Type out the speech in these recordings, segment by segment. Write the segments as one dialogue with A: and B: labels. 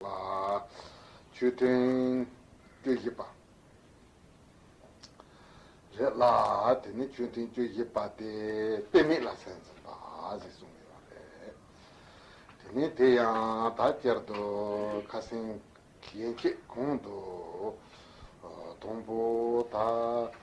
A: ལ། ཆོས་ཐུན། བཅུ་བཞི་པ། རེད་ལ། དེ་ནི་ཆོས་ཐུན་བཅུ་བཞི་པ་སྟེ་དཔེ་མེད་ལ་སེམས་ཟིན་པ་ཞེས་གསུངས་ཡོད་པ་རེད། དེ་ནས་དེ་ཡང་དག་བསྐྱར་དུ་ཁ་སེང་གི་ཡན་ཆད་གོང་དུ། དང་པོ་དག་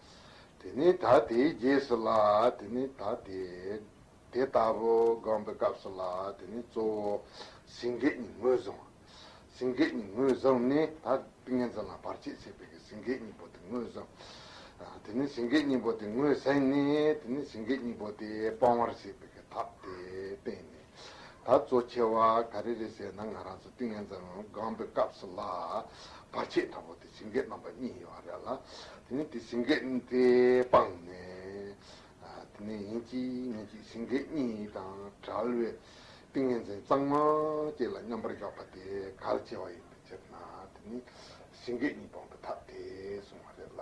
A: དེ་ནས་ད་དེའི་རྗེས་སུ་ལ་དེ་ནས་ད་དེ། དེ་ལྟ་བུ་དགོངས་པའི་སྐབས་སུ་ལ་དེ་ནས་གཙོ་བོ། སེང་གེ་གཉིས་ངོས་བཟུང། སེང་གེ་གཉིས་ངོས་བཟུང་ནས་ད་ཏིང་ངེ་འཛིན་ལ་བར་ཆད་བྱེད་པའི་གི་སེང་གེ་གཉིས་པོ་དེ་ངོས་བཟུང། དེ་ནས་སེང་གེ་གཉིས་པོ་དེ་ངོས་ཟིན་ནས་དེ་ནས་སེང་གེ་གཉིས་པོ་དེ་སྤང་བར་བྱེད་པའི་གི་ཐབས་དེ་བསྟན་ནས། ད་གཙོ་ཆེ་བ་ག་རེ་རེད་ཟེར་ན་ང་རང་ཚོ་ཏིང་ངེ་འཛམ་གླིང་སྒང་པའི་སྐབས་སུ་ལ་བར་ཆད་དྲག་པོ་དེ་ཞིང་སྐད་རྣམ་པ་གཉིས་ཡོད་བ་རེད་ལ་དེ་ནས་དེ་ཞིང་སྐད་དེ་སྤངས་ནས་དེ་ནས་ཡིན་གཅིག་མིན་གཅིག་ཞིང་སྐད་གཉིས་དང་བྲལ་བའི་ཏིང་ངེ་འཛིན་གཙང་མ་བཅས་ལ་མཉམ་པར་བཞག་པ་དེ་གལ་ཆེ་བ་ཡིན་པའི་ཕྱིར་ན་དེ་ནས་ཞིང་སྐད་གཉིས་སྤངས་པའི་ཐབས་དེ་གསུངས་བ་རེད་ལ།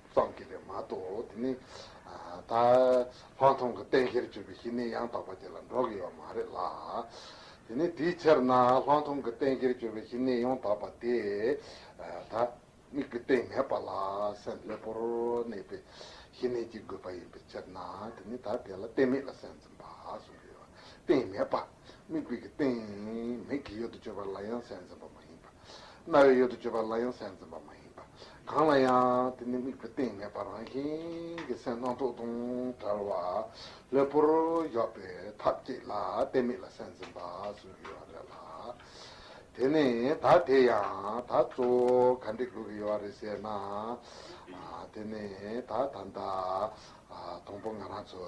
A: ཙམ་གྱིས་ལས་མ་གཏོགས་དེ་ནི། ད་ལྷག་མཐོང་གི་གཏན་འཁེལ་བརྗོད་པའི་གཞི་གནས་ཡང་དག་པ་དེ་ལ་འགྲོ་གི་ཡོད་མ་རེད་ལ། དེ་ནི་དེའི་ཕྱིར་ན་ལྷག་མཐོང་གི་གཏན་འཁེལ་བརྗོད་པའི་གཞི་གནས་ཡང་དག་པ་དེ། ད་དམིགས་ཀྱི་སྟེང་མེད་པ་ལ་སེམས་ལྷོད་པོར་གནས་པའི་གཞི་གནས་ཀྱི་དགོས་པ་ཡིན་པའི་ཕྱིར་ན་དེ་ནི་ད་དེ་ལ་གཏན་མེད་ལ་སེམས་འཛིན་པ་གསུམ་གྱི་ཡོད་པ་སྟེང་མེད་པ་དམིགས་པའི་གི་སྟེང་མེད་ཀྱི་ཡོད་དུ་གཅོད་པ་ལ་ཡང་སེམས་འཛིན་པ་མ་ཡིན་པ་རྣ་བའི་ཡུལ་དུ་བརྗོད་པ་ལ་ཡང་སེམས་འཛིན་པ་མ་ཡིན་པ་གང་ལ་ཡང་དེ་ནི་དམིགས་པའི་སྟེང་མེད་པར་རང་བཞིན་གྱི་སེམས་སྣང་སྟོང་དང་བྲལ་བ་ལྷོད་པོར་འཇོག་པའི་ཐབས་བསྐྱེད་ལ་དེ་མིག་ལ་སེམས་འཛིན་པ་གསུམ་གྱི་ཡོ་བ་རེད་ལ། དེ་ནི་ད་དེ་ཡང་ད་གཙོ་བོ་ག་འདྲའི་ལུགས་ཀྱི་ཡོ་བ་རེད་ཟེར་ན། དེ་ནི་ད་ད་ལྟ་དང་པོ་ང་རང་ཚོ་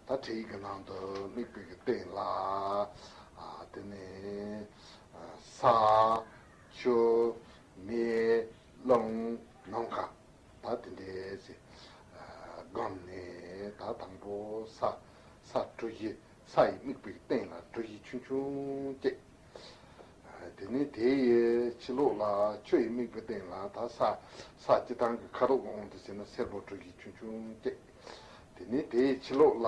A: ད་ཁྲིད་ཡིག་གི་ནང་དུ་དམིགས་པའི་སྟེང་ལ་དེ་ནི། ས། ཆུ། མེ། རླུང། ནམ་མཁའ། ད་དེ་འདྲའི་ཚེ། སྒང་ནས་ད་དང་པོ་ས། ས་གྲུ་བཞི་ས་ཡི་དམིགས་པའི་སྟེང་ལ་གྲུ་བཞི་ཆུང་ཆུང་བསྐྱེད། དེ་ནས་དེ་ཡི་ཕྱི་ལོགས་ལ་ཆུ་ཡི་དམིགས་པའི་སྟེང་ལ་ད་ས། ས་སྤྱི་དང་གི་ཁ་རུ་འོང་དུ་བྱས་ན་སེར་པོ་གྲུ་བཞི་ཆུང་ཆུང་བསྐྱེད། དེ་ནས་དེ་ཡི་ཕྱི་ལོགས་ལ་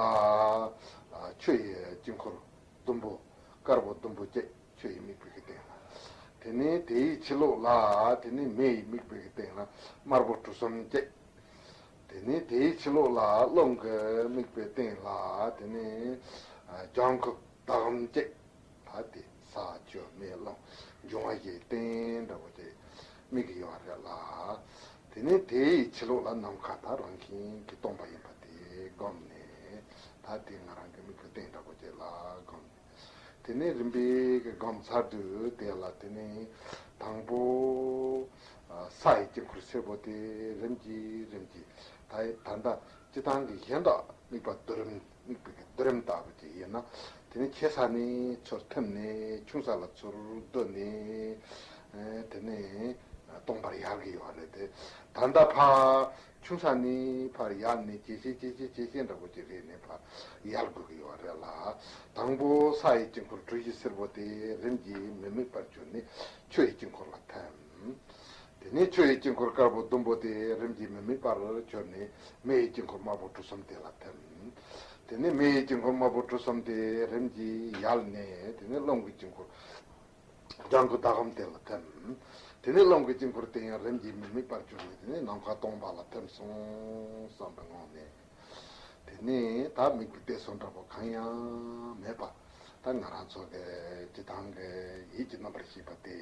A: ཆུ་ཡི་དཀྱིལ་འཁོར་ཟླུམ་པོ། དཀར་པོ་ཟླུམ་པོ་བརྒྱད་ཆུ་ཡི་མིག་དཔེ་གྱི་སྟེང་ན། དེ་ནས་དེ་ཡི་ཕྱི་ལོགས་ལ། དེ་ནས་མེ་ཡི་མིག་དཔེ་གྱི་སྟེང་ན་དམར་པོ་གྲུ་གསུམ་བརྒྱད། དེ་ནས་དེ་ཡི་ཕྱི་ལོགས་ལ་རླུང་གི་མིག་དཔེ་སྟེང་ལ། དེ་ནས་ལྗང་ཁུ་ཟླ་གམ་བརྒྱད། ད་དེ་ས་བཅུ་མེ་རླུང་འབྱུང་བ་བཞིའི་སྟེང་དྲ་བོ་བརྒྱད་མིག་གི་ཡོ་བ་རེ་ལ། དེ་ནས་དེ་ཡི་ཕྱི་ལོགས་ལ་ནམ་མཁའ་དང་རང་བཞིན་གྱིས་སྟོང་པ་ཡིན་པ་དེ་བསྒོམས་ནས། ད་དེ་ང་རང་གི་མིག་གི་སྟེང་དྲག་པོ་བྱས་ལ་བསྒོམས་ནས། དེ་ནས་རིམ་པས་བསྒོམ་ཚར་དུས་དེ་ལ་དེ་ནས། དང་པོ། ས་ཡི་དཀྱིལ་འཁོར་སེར་པོ་དེ་རིམ་གྱིས་རིམ་གྱིས། ད་ད་ལྟ་སྤྱི་དང་གི་གཞན་དག་དམིགས་པ་བསྡུ་རིམ། དམིགས་པའི་བསྡུ་རིམ་ལྟ་བུ་དེ་ཡིན། དེ་ནས་ཆེ་ས་ནས་ཚུར་ཐིམ་ནས་ཆུང་ས་ལ་ཚུར་བསྡུ་ནས་དེ་ནས་སྟོང་པར་ཡལ་གྱི་ཡོད་རེད་དེ། ད་ལྟ་ཕར་ཆུང་ས་ནས་ཕར་ཡལ་ནས་ཇེ་ཆེ་ཇེ་ཆེ་ཇེ་ཆེ་འདྲ་པོ་ཞིག་རེད་ནས་ཕར་ཡལ་དགོས་ཀྱི་ཡོད་རེད་ལ། དང་པོ་ས་ཡི་དཀྱིལ་འཁོར་གྲུ་བཞི་སེར་པོ་དེ་རིམ་གྱིས་མི་དམིགས་པར་གྱུར་ནས་ཆུ་ཡི་དཀྱིལ་འཁོར་ལ་ཐིམ། དེ་ནས་ཆུ་ཡི་དཀྱིལ་འཁོར་དཀར་པོ་ཟླུམ་པོ་དེ་རིམ་གྱིས་མི་དམིགས་པར་གྱུར་ནས་མེ་ཡི་དཀྱིལ་འཁོར་དམར་པོ་གྲུ་གསུམ་དེ་ལ་ཐིམ། དེ་ནས་མེ་ཡི་དཀྱིལ་འཁོར་དམར་པོ་གྲུ་གསུམ་དེ་རིམ་གྱིས་ཡལ་ནས་དེ་ནས་རླུང་གི་དཀྱིལ་འཁོར་ལྗང་གུ་ཟླ་གམ་དེ་ལ་ཐིམ། དེ་ནས་རླུང་གི་དཀྱིལ་འཁོར་དེ་ཡང་རིམ་གྱིས་མི་དམིགས་པར་གྱུར་ནས་དེ་ནས་ནམ་མཁའ་སྟོང་པ་ལ་ཐིམ་སོང་བསམ་པའི་ངང་ནས། དེ་ནས་ད་མིག་གི་གཏད་སོ་འདྲ་པོ་གང་ཡང་མེད་པ། ད་ང་རང་ཚོ་དེ་ཇི་ལྟང་གི་ཡིད་ཀྱི་རྣམ་པར་ཤེས་པ་སྟེ།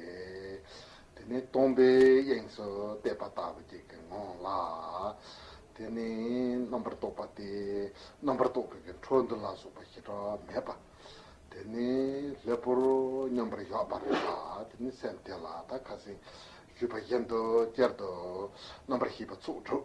A: དེ་ནས་སྟོང་པའི་དབྱིངས་སུ་གཏད་པ་ལྟ་བུ་ཅིག་གི་ངང་ལ། དེ་ནས་རྣམ་པར་རྟོག་པ་སྟེ་རྣམ་པར་རྟོག་པའི་གི་འཕྲོ་འདུ་ལ་སོགས་པ་ཞེ་དྲག་མེད་པ། དེ་ནས་ལྷའི་བུར་མཉམ་པར་གཞག་པར་བྱ། དེ་ནས་སེམས་དེ་ལ་ད་ཁ་སེང་བཞུས་པ་བཞིན་དུ་ཅེར་དུ་རྣམ་པར་ཤེས་པ་ཚུགས་གྲུབ།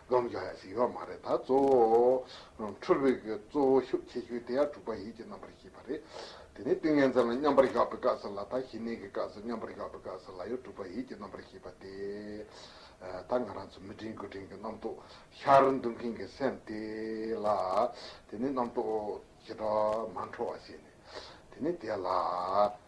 A: སྡོམ་བྱ་ཡང་ཞིག་ཡོད་མ་རེད་ད། གཙོ་བོ། འཁྲུལ་བའི་གི་གཙོ་བོ་ཤུགས་ཆེ་ཤོས་དེ་ཡང་དྲུག་པ་ཡིད་ཀྱི་རྣམ་པར་ཤེས་པ་རེད། དེ་ནས་ཏིང་ངེ་འཛིན་ལ་མཉམ་པར་གཞག་པའི་སྐབས་སུ་ལ་དང་ཞི་གནས་ཀྱི་སྐབས་སུ་མཉམ་པར་གཞག་པའི་སྐབས་སུ་ལ་ཡང་དྲུག་པ་ཡིད་ཀྱི་རྣམ་པར་ཤེས་པ་དེ། ད་ང་རང་ཚོ་མི་དྲན་དགུ་དྲན་གྱི་རྣམ་རྟོག་ཤར་འདུག་མཁན་གྱི་སེམས་དེ་ལ། དེ་ནས་རྣམ་རྟོག་ཇི་ལྟར་མ་འཕྲོ་བ་བྱས་ནས། དེ་ནས་དེ་ལ།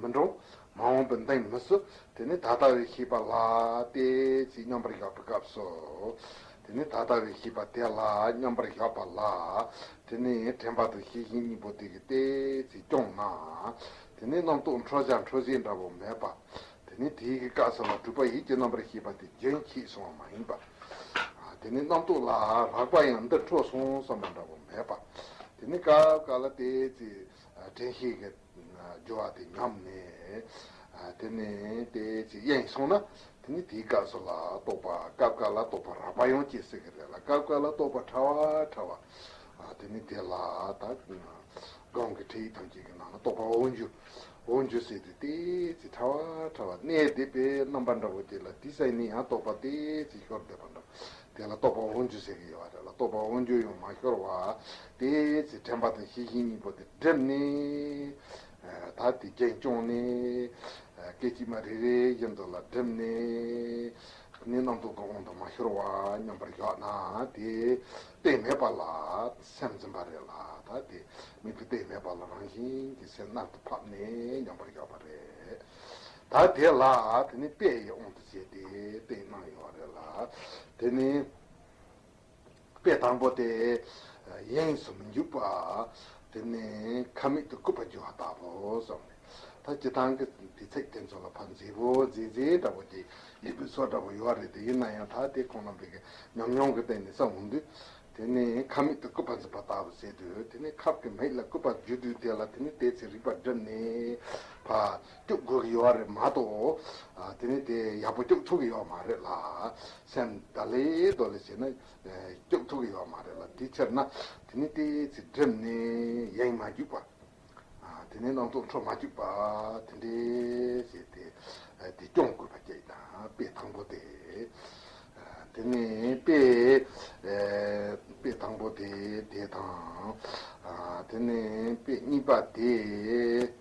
A: མི་འགྲོ། མ་འོངས་པའི་མདངས་མི་བསུ། དེ་ནི་ད་ལྟ་བའི་ཤེས་པ་ལ་དེ་ཅིས་མཉམ་པར་གཞག་པའི་སྐབས་སོ། དེ་ནི་ད་ལྟ་བའི་ཤེས་པ་དེ་ལ་མཉམ་པར་གཞག་པ་ལ་དེ་ནི་དྲན་པ་དང་ཤེས་བཞིན་གཉིས་པོ་དེ་གི་དེ་ཅིས་སྐྱོང་ན། དེ་ནི་རྣམ་རྟོག་འཕྲོ་བྱ་འཕྲོ་བྱེད་འདྲ་བོ་མེད་པ། དེ་ནི་དེའི་གི་སྐབས་སུ་ལ་གྲུབ་པ་ཡིད་ཀྱི་རྣམ་པར་ཤེས་པ་དེ་རྒྱུན་གྱིས་སོང་བ་མ་ཡིན་པ། དེ་ནི་རྣམ་རྟོག་ལ་རགས་པ་ཡང་འདིར་འཕྲོ་སོང་བསམ་པ་འདྲ་བོ་མེད་པ། དེ་ནི་སྐབས་འགའ་ལ་དེ་ཅིས། བྲན་གཤེད་ཀྱི་སྦྱོར་བ་དེ་ཉམས་ནས། དེ་ནས་དེ་ཅིག་གཡས་ནས་སོང་ན། དེ་ནི་དེའི་སྐབས་སུ་ལ་སྟོབས་པ་སྐབས་སྐབས་ལ་སྟོབས་པ་རགས་པ་ཡང་སྐྱེ་སྲིད་ཀྱི་རེད་ལ་སྐབས་སྐབས་ལ་སྟོབས་པ་ཕྲ་བ་ཕྲ་བ། དེ་ནི་དེ་ལ་ད་གང་གི་ཁྲིད་ཡིག་ཐམས་ཅད་ཀྱི་ནང་ལ་སྟོབས་པ་འོ་འཇུ་འོ་འཇུ་སྲིད་དེ་དེ་ཅིག་ཕྲ་བ་ཕྲ་བ་གནས་དེ་པའི་རྣམ་པ་འདྲ་བོ་དེ་ལ་དེ་སྲས་ནི་ཡང་སྟོབས་པ་དེ་ཅིག་ཤོར་བསྡད་པ་འདྲ་བོ། དེ་ལ་རྟོག་པ་དབང་བསྒྱུར་ཟེར་གྱི་ཡོད་པ་རེད་ལ་རྟོག་པ་དབང་བསྒྱུར་ཡང་མ་ཤོར་བ་དེའི་ཚེ་དྲན་པ་དང་ཤེས་བཞིན་གཉིས་པོ་དེ་བསྒྲིབས་ནས། ད་དེ་རྒྱན་བསྐྱོང་ནས། སྐད་ཅིག་མ་རེ་རེ་བཞིན་དུ་ལ་བསྒྲིབས་ནས། ནི་རྣམ་རྟོག་གི་དབང་དུ་མ་ཤོར་བ་མཉམ་པར་ཞོག་ན་དེ་གཏད་མེད་པ་ལ་སེམས་འཛིན་པ་རེད་ལ་ད་དེ་མིག་གིས་གཏད་མེད་པ་ལ་རང་བཞིན་གྱི་སེམས་རྣག་ཏུ་ཕབ་ནས་མཉམ་པར་ཞོག་པ་རེད། ད་དེ་ལ་དེ་ནི་དཔེ་ཡི་དབང་དུ་བྱས་ཏེ་དཔེ་གནང་ཡོད་པ་རེད་ལ། དེ་ནི་དཔེ་དང་པོ་སྟེ། དབྱིངས་སུ་མི་འཇུག་པ། དེ་ནི་ཁ་མིག་ཏུ་སྐུད་པ་འཇུ་བ་ལྟ་བུ་སོགས་ནས། ད་སྤྱི་དང་གི་དེ་ཚེག་དེ་ཚོ་ལ་ཕ་མཛེས་པོ་མཛེས་མཛེས་འདྲ་བོ་དེ་ཡི་གུ་ཚོ་འདྲ་བོ་ཡོད་རེད་དེ་ཡིན་ན་ཡང་ད་དེ་ཁོང་རྣམ་པའི་གི་ཉམས་མྱོང་གི་སྟེང་ནས་བསམ་འོང་དུས། དེ་ནི་ཁ་མིག་ཏུ་སྐུད་པ་འཛུགས་པ་ལྟ་བུ་ཟེར་དུས་དེ་ནི་ཁབ་ཀྱི་མིག་ལ་སྐུད་པ་འཇུ་དུས་དེ་ལ་དེ་ནི་དེ་ཚེ་རིག་པ་བསྒྲིམས་ནས་ཕ། སྐྱོབ་དགོས་ཀྱི་ཡོད་རེད་མ་གཏོགས་དེ་ནས་དེ་ཡག་པོ་སྐྱོབ་ཐུབ་ཀྱི་ཡོད་མ་རེད་ལ། སེམས་དག་ལེ་དོ་ལེ་བྱས་ན་སྐྱོབ་ཐུབ་ཀྱི་ཡོད་མ་རེད་ལ་དེའི་ཕྱིར་ན་དེ་ནས་དེ་ཚེ་བསྒྲིམས་ནས་ཡེངས་མ་བརྒྱུགས་པ། དེ་ནས་སྣང་ཚོགས་འཕྲོ་མ་བརྒྱུགས་པ་དེ་འདྲས་བྱས་ཏེ་དེ་སྐྱོང་དགོས་པ་ཀྱི་དང་དཔེ་དང་པོ་དེ། དེ་ནས་དཔེ། དཔེ་དང་པོ་དེ་དེ་དང། དེ་ནས་དཔེ་གཉིས་པ་དེ།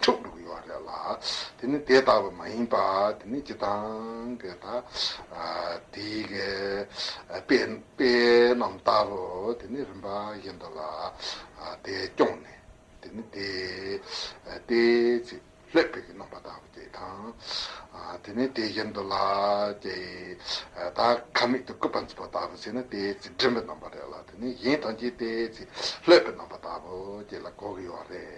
A: འཁྲུགས་འདུག་ཡོད་རེད་ལ། དེ་ནི་དེ་ལྟ་བུ་མ་ཡིན་པ་དེ་ནི་སྤྱི་དང་གེ་ད། དེ་གེ་པེ་རྣམས་ལྟ་བུ་དེ་ནི་རིམ་པ་བཞིན་དུ་ལ་དེ་སྐྱོང་ནས་དེ་ནི་དེ་སྟེ་ཚིག་ལྷོད་པོས་གནང་པ་ལྟ་བུ་དེ་དང། དེ་ནི་དེ་བཞིན་དུ་ལ་དེ་ད་ག་མིག་ཏུ་སྐུད་པ་འཛུགས་པ་ལྟ་བུ་ཚིག་ནི་དེ་ཚིག་སྒྲིམ་པོས་གནང་པ་རེད་ལ་དེ་ནི་གཞན་ཐམས་ཅད་དེ་ཚིག་ལྷོད་པོས་གནང་པ་ལྟ་བུ་དེ་ལ་གོ་གི་ཡོད་རེད།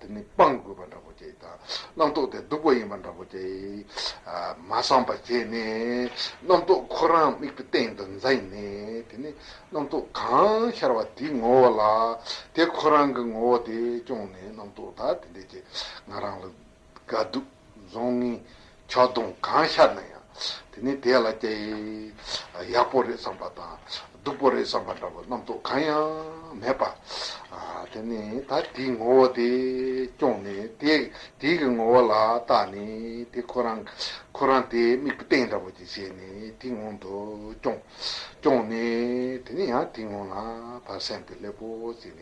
A: དེ་ནི་སྤང་དགོས་པ་འདྲ་པོ་སྐྱེ། རྣམ་རྟོག་དེ་སྡུག་པ་ཡིན་པ་འདྲ་པོ་སྐྱེ། མ་སངས་པ་སྐྱེས་ནས། རྣམ་རྟོག་ཁོ་རང་དམིགས་པའི་སྟེང་དུ་འཛིན་ནས་དེ་ནི་རྣམ་རྟོག་གང་ཤར་བ་དེའི་ངོ་བོ་ལ། དེ་ཁོ་རང་གི་ངོ་བོ་དེ་སྐྱོང་ནས་རྣམ་རྟོག་དག་དེ་འདྲས་སྐྱེ། ང་རང་ལ་དགའ་སྡུག། རྫོང་ནི་ཆག་རྡུང་གང་ཤར་ན་ཡང་དེ་ནི་དེ་ལ་སྐྱ་ཡི་ཡག་པོ་རེད་བསམ་པ་དང་སྡུག་པོ་རེད་བསམ་པ་འདྲ་བོ་རྣམ་རྟོག་གང་ཡང་མེད་པ། དེ་ནི་ད་དེའི་ངོ་བོ་དེ་སྐྱོང་ནས་དེ་དེའི་གི་ངོ་བོ་ལ་བརྟགས་ནས་དེ་ཁོ་རང་ཁོ་རང་དེ་དམིགས་པ་སྟེང་འདྲ་བོ་ཅིག་བྱས་ནས་དེའི་ངང་དུ་སྐྱོང། སྐྱོང་ནས་དེ་ནི་ཡང་དེའི་ངང་ལ་བར་སེམས་དེ་སླེབས་པོ་བྱས་ནས་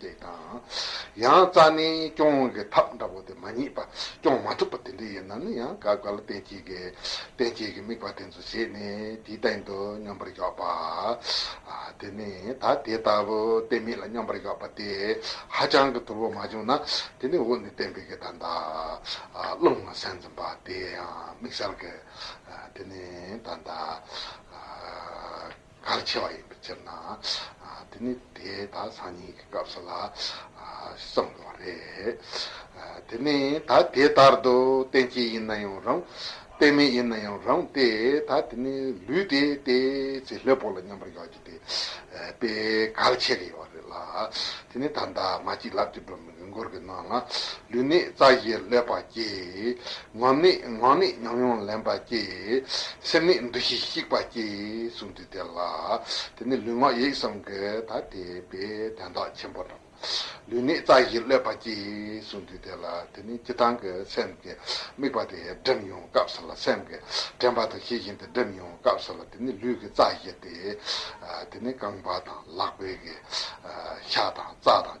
A: དེ་དང། ཡང་རྩ་ནི་སྐྱོང་གི་ཐབས་འདྲ་བོ་དེ་མ་རྙེད་པ་སྐྱོང་མ་ཐུབ་པ་དེ་འདྲ་ཡིན་ན་ནི་ཡང་དགག་དཀའ་ལ་བསྟན་བྱེད་ཀྱི་བསྟན་བྱེད་ཀྱི་དམིགས་པ་དེ་ཚོ་བྱས་ནས་དེའི་སྟེང་དུ་སྙོམས་པར་འཇོག་པ། དེ་ནི་ད་དེ་ལྟ་བུ་གཏན་མེད་ལ་སྙོམས་པར་འཇོག་པ་དེ་ཧ་ཅང་གི་ཐུར་བོ་མ་བྱུང་ན་དེ་ནི་འོག་ནས་བསྟན་པའི་གི་ད་ལྟ་རླུང་ལ་སེམས་འཛིན་པ་དེ་ཡང་དམིགས་བསལ་གི་དེ་ནི་ད་ལྟ། གར་བྱེད་པ་ཡིན་པའི་ཕྱིར་ན། དེ་ནི་དེ་དག་སང་ཉིན་གྱི་སྐབས་སུ་ལ་བསམ་དགོས་པ་རེད། དེ་ནི་ད་དེ་ལྟར་དུ་བསྟན་སྐྱེས་ཡིན་ན་ཡང་རུང། བསྟན་མེད་ཡིན་ན་ཡང་རུང་སྟེ་ད་དེ་ནི་ལུས་དེ་སྟེ་ཚེ་ལྷའི་བུ་ལ་མཉམ་པར་ཡོད་ཀྱི་དེ་དཔེའི་གར་བྱེད་ཀྱི་ཡོད་རེད་ལ། དེ་ནི་ད་འདབ་མ་གཅིག་ལབ་ཀྱི་འགྲོ། ཡུལ་འཁོར་གྱི་ནང་ན་ལུས་ནི་རྩ་བཞིའི་ཀླད་པ་སྐྱེ། ངམ་ནི་ངག་ནི་ཉམས་མྱོང་ལེན་པ་སྐྱེ། སེམས་ནི་འདུ་ཤེས་བཤིག་པ་སྐྱེ་གསུངས་ཏེ་དེ་ལ་དེ་ནི་ལུས་ངག་ཡིད་གསུམ་གྱི་ཐ་དད་པའི་དན་རྟགས་ཆེན་པོ་དང། ལུས་ནི་རྩ་བཞིའི་ཀླད་པ་སྐྱེ་གསུངས་ཏེ་དེ་ལ་དེ་ནི་སྤྱི་དང་གི་སེམས་ཀྱི་དམིགས་པ་དེ་སྒྲིབ་མྱོང་སྐབས་ལ་སེམས་ཀྱི་དྲན་པ་དང་ཤེས་བཞིན་དེ་སྒྲིབ་མྱོང་སྐབས་ལ་དེ་ནི་ལུས་ཀྱི་རྩ་བཞི་སྟེ། དེ་ནི་རྐང་པ་དང་ལག་པའི་གི་ཤ་དང་རྩ་དང།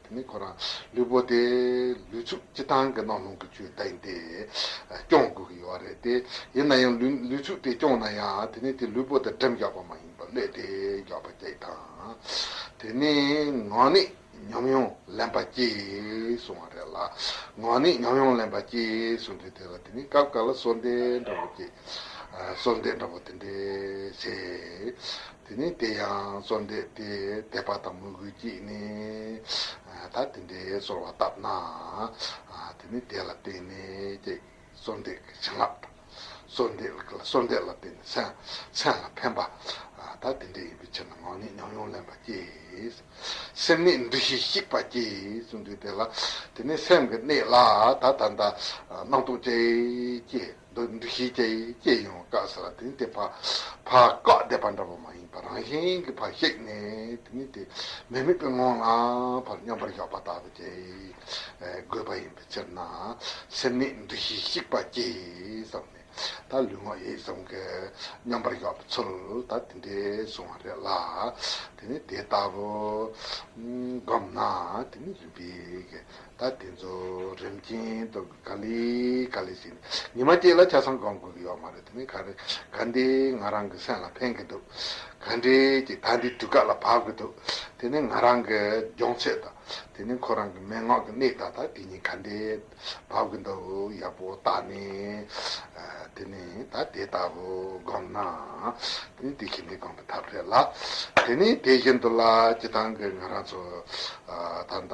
A: དེ་ནི་ཁོ་རང་ལུས་པོ་དེ་ལུས་ཚུགས་སྤྱི་སྟངས་ཀྱི་ནང་ལྷུང་གི་ཆུ་ཟླ་ཡིན་ཏེ། སྐྱོང་དགོས་ཀྱི་ཡོད་རེད་དེ། ཡིན་ན་ཡང་ལུས་ཚུགས་དེ་སྐྱོང་ན་ཡང་དེ་ནི་དེ་ལུས་པོ་དེ་འགྲེམས་རྒྱག་པ་མ་ཡིན་པར་བསླད་དེ་རྒྱག་པ་སྐྱེ་གི་དང། དེ་ནི་ངང་ནི་ཉམས་མྱོང་ལེན་པ་སྐྱེས་གསུང་བ་རེད་ལ། ངང་ནི་ཉམས་མྱོང་ལེན་པ་སྐྱེས་གསུང་དུས་དེ་ལ་དེ་ནི་སྐབས་འགའ་ལ་སོ་འདེ་འདྲ་བོ་སྐྱེས། སོ་འདེ་འདྲ་བོ་དེ་འདྲས་བྱས། དེ་ནས་དེ་ཡང་གཙོར་འདེབས་ཏེ་དད་པ་དང་མོས་གུས་ཀྱིས་ནི། ད་དེ་འདྲའི་ཚོར་བ་བཏབ་ན། དེ་ནི་དེ་ལ་བརྟེན་ནས་ཀྱེ། གཙོར་འདེབས་ཀྱི་བྱིན་རླབས་དང། གཙོར་འདེབས་ལ་གཙོར་འདེབས་ལ་བརྟེན་ནས་མཚན་ལ་ཕན་པ། ད་དེ་འདྲ་ཡིན་པའི་ཕྱིར་ན་ངག་ནི་ཉམས་མྱོང་ལེན་པ་ཀྱེ། སེམས་ནི་འདུ་ཤེས་བཤིག་པ་ཀྱེ་གསུངས་དུས་དེ་ལ་དེ་ནི་སེམས་ཀྱི་གནས་ལ་ད་ད་ལྟ་སྣང་རྟོག་ཅེས་ཀྱེ། འདུ་འདུ་ཤེས་བསྐྱེད་ཡིན་བསྐྱེད་ཡོང་བ་བཀག་ཟེར་བ་དེ་ནི་དེ་ཕར་ཕར་བཀག་བསྡད་པ་འདྲ་བོ་མ་ཡིན་པར་རང་བཞིན་གྱི་ཕར་གཤེགས་ནས་དེ་ནི་དེ་མི་དམིགས་པའི་ངང་ལ་ཕར་སྙོམས་པར་ཞོག་པ་དག་ཏུ་བསྐྱེད་དགོས་པ་ཡིན་པའི་ཕྱིར་ན་སེམས་ནི་འདུ་ཤེས་བཤིག་པ་སྐྱེས་བསམ་ནས་ད་ལུས་ངག་ཡིད་གསུམ་གའི་སྙོམས་པར་ཞོག་པའི་ཚུལ་ད་དེ་འདྲའི་བཟུང་བ་རེད་ལ་དེ་ནི་དེ་ལྟ་བུ་བསྒོམས་ན་དེ་ནི་རིམ་པས་ད་དེ་ཚོ་རིམ་ཅན་དུ། ག་ལི། ག་ལི་ཟེར། ཉི་མ་སྐྱེས་ལ་ཆ་ཚང་སྒང་དགོས་ཀྱི་ཡོད་མ་རེད་དེ་ནི་ག་རེ། ག་འདི་ང་རང་གི་སེམས་ལ་ཕན་གྱི་འདུག། ག་འདྲའི་ཀྱི་ད་འདི་དུས་བཀག་ལ་བབ་གྱི་འདུག་དེ་ནི་ང་རང་གི་སྦྱོང་ཚད་དང། དེ་ནི་ཁོ་རང་གི་མན་ངག་གི་གནད་དག་དང་དེ་གཉིས་ག་འདྲའི་བབ་གྱི་འདུག་ཡག་པོ་བརྟག་ནས། དེ་ནི་ད་དེ་ལྟ་བུ་སྒོམ་ན། དེ་ནི་དེ་ཤིན་ཏེ་སྒོམ་པའི་ཐབས་རེད་ལ། དེ་ནི་དེ་བཞིན་དུ་ལ་ཅི་ཐང་གི་ང་རང་ཚོ་ད་ལྟ།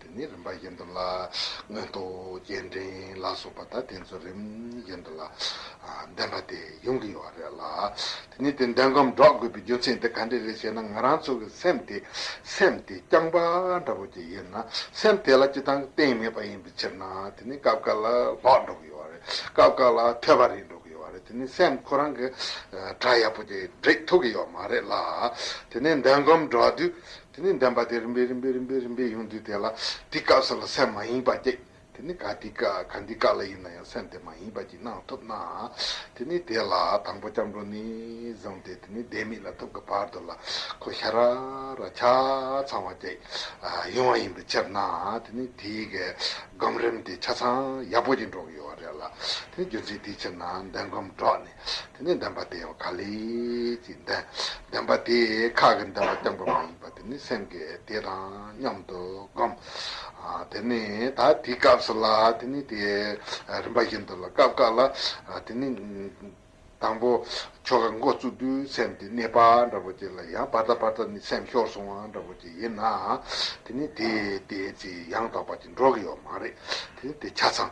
A: དེ་ནས་རིམ་པ་བཞིན་དུ་ལ། མངོན་རྟོགས་སྐྱེལ་འདྲེན་ལ་སོགས་པ་དང་དེ་ཚོ་རིམ་བཞིན་དུ་ལ། བདེན་པ་དེ་ཡོང་གི་ཡོད་བ་རེད་ལ། དེ་ནས་དེ་འདོན་གམ་སྒྲོག་དགོས་པའི་རྒྱུ་མཚན་དེ་ག་འདྲས་རེད་ཞེ་ན་ང་རང་ཚོ་གི་སེམས་དེ་སེམས་དེ་རྐྱང་པ་འདྲ་བོ་ཅིག་ཡིན་ན་སེམས་དེ་ལ་སྤྱི་དང་གཏན་མེད་པ་ཡིན་པའི་ཕྱིར་ན་དེ་ནས་སྐབས་འགར་ལ་ལྷོག་འགྲོ་གི་ཡོད་བ་རེད་སྐབས་འགར་ལ་ཐོད་པ་རིས་འགྲོ་གི་ཡོད་བ་རེད་དེ་ནས་སེམས་ཁོ་རང་གི་སྒྲ་ཡག་པོ་ཅིག་འབྲི་ཐུབ་ཀྱི་ཡོད་མ་རེད་ལ། དེ་ནས་འདོན་གམ་སྒྲོག་དུས་དེ་ནས་འདྲེན་པ་དེ་རིམ་པས་རིམ་པས་རིམ་པས་རིམ་པས་ཡོང་དུས་དེ་ལ་འདི་སྐབས་སུ་ལ་སེམས་མ་ཡེངས་པར་བསྐྱེད། དེ་ནས་ག་དུས་ག་འདི་སྐབས་ལ་ཡིན་ན་ཡང་སེམས་དེ་མ་ཡེངས་པར་གྱིས་གནང་ཐུབ་ན། དེ་ནས་དེ་ལ་དང་པོ་སྐྱབས་འགྲོ་ནས་བཟུང་སྟེ་དེ་ནས་བཟླས་དམིགས་ལ་ཐུབ་ཀྱི་བར་དུ་ལ་ཁོ་ཤ་ར་ར་ཆ་ཚང་བ་བསྐྱེད་ཡོང་བ་ཡིན་པའི་ཕྱིར་ན་དེ་ནས་དེའི་གའི་སྒོམ་རིམ་དེ་ཆ་ཚང་ཡག་པོ་ཅིག་འགྲོ་གི་ཡོད་རེད་ལ། དེ་ནས་རྒྱུ་མཚན་དེའི་ཕྱིར་ན་འདི་སྒོམ་སྒྲོག་ནས། དེ་ནས་བདེན་པ་དེ་ག་ལས་ཀྱི་བདེན་པ་དེ་ཁ་གི་བདེན་པ་སྟོན་པ་མ་ཡིན་པ་དེ་ནི་སེམས་ཀྱི་དེ་དང་མཉམ་དུ་བསྒོམ། དེ་ནས་ད་དེའི་སྐབས་སུ་ལ་དེ་ནི་དེ་རིམ་པ་བཞིན་དུ་ལ་སྐབས་སྐབས་ལ་དེ་ནི། དང་པོ་ཆོ་ག་མགོ་བཙུགས་དུས་སེམས་དེ་གནས་པ་འདྲ་བོ་ཅིག་ལ་ཡང་བར་དག་བར་དག་ནི་སེམས་ཤོར་སོང་བ་འདྲ་བོ་ཅིག་ཡིན་ན། དེ་ནི་དེ་དེ་ཅི་ཡང་དག་པ་ཅིག་འགྲོ་གི་ཡོད་མ་རེད་དེ་ནི་དེ་ཆ་ཚང།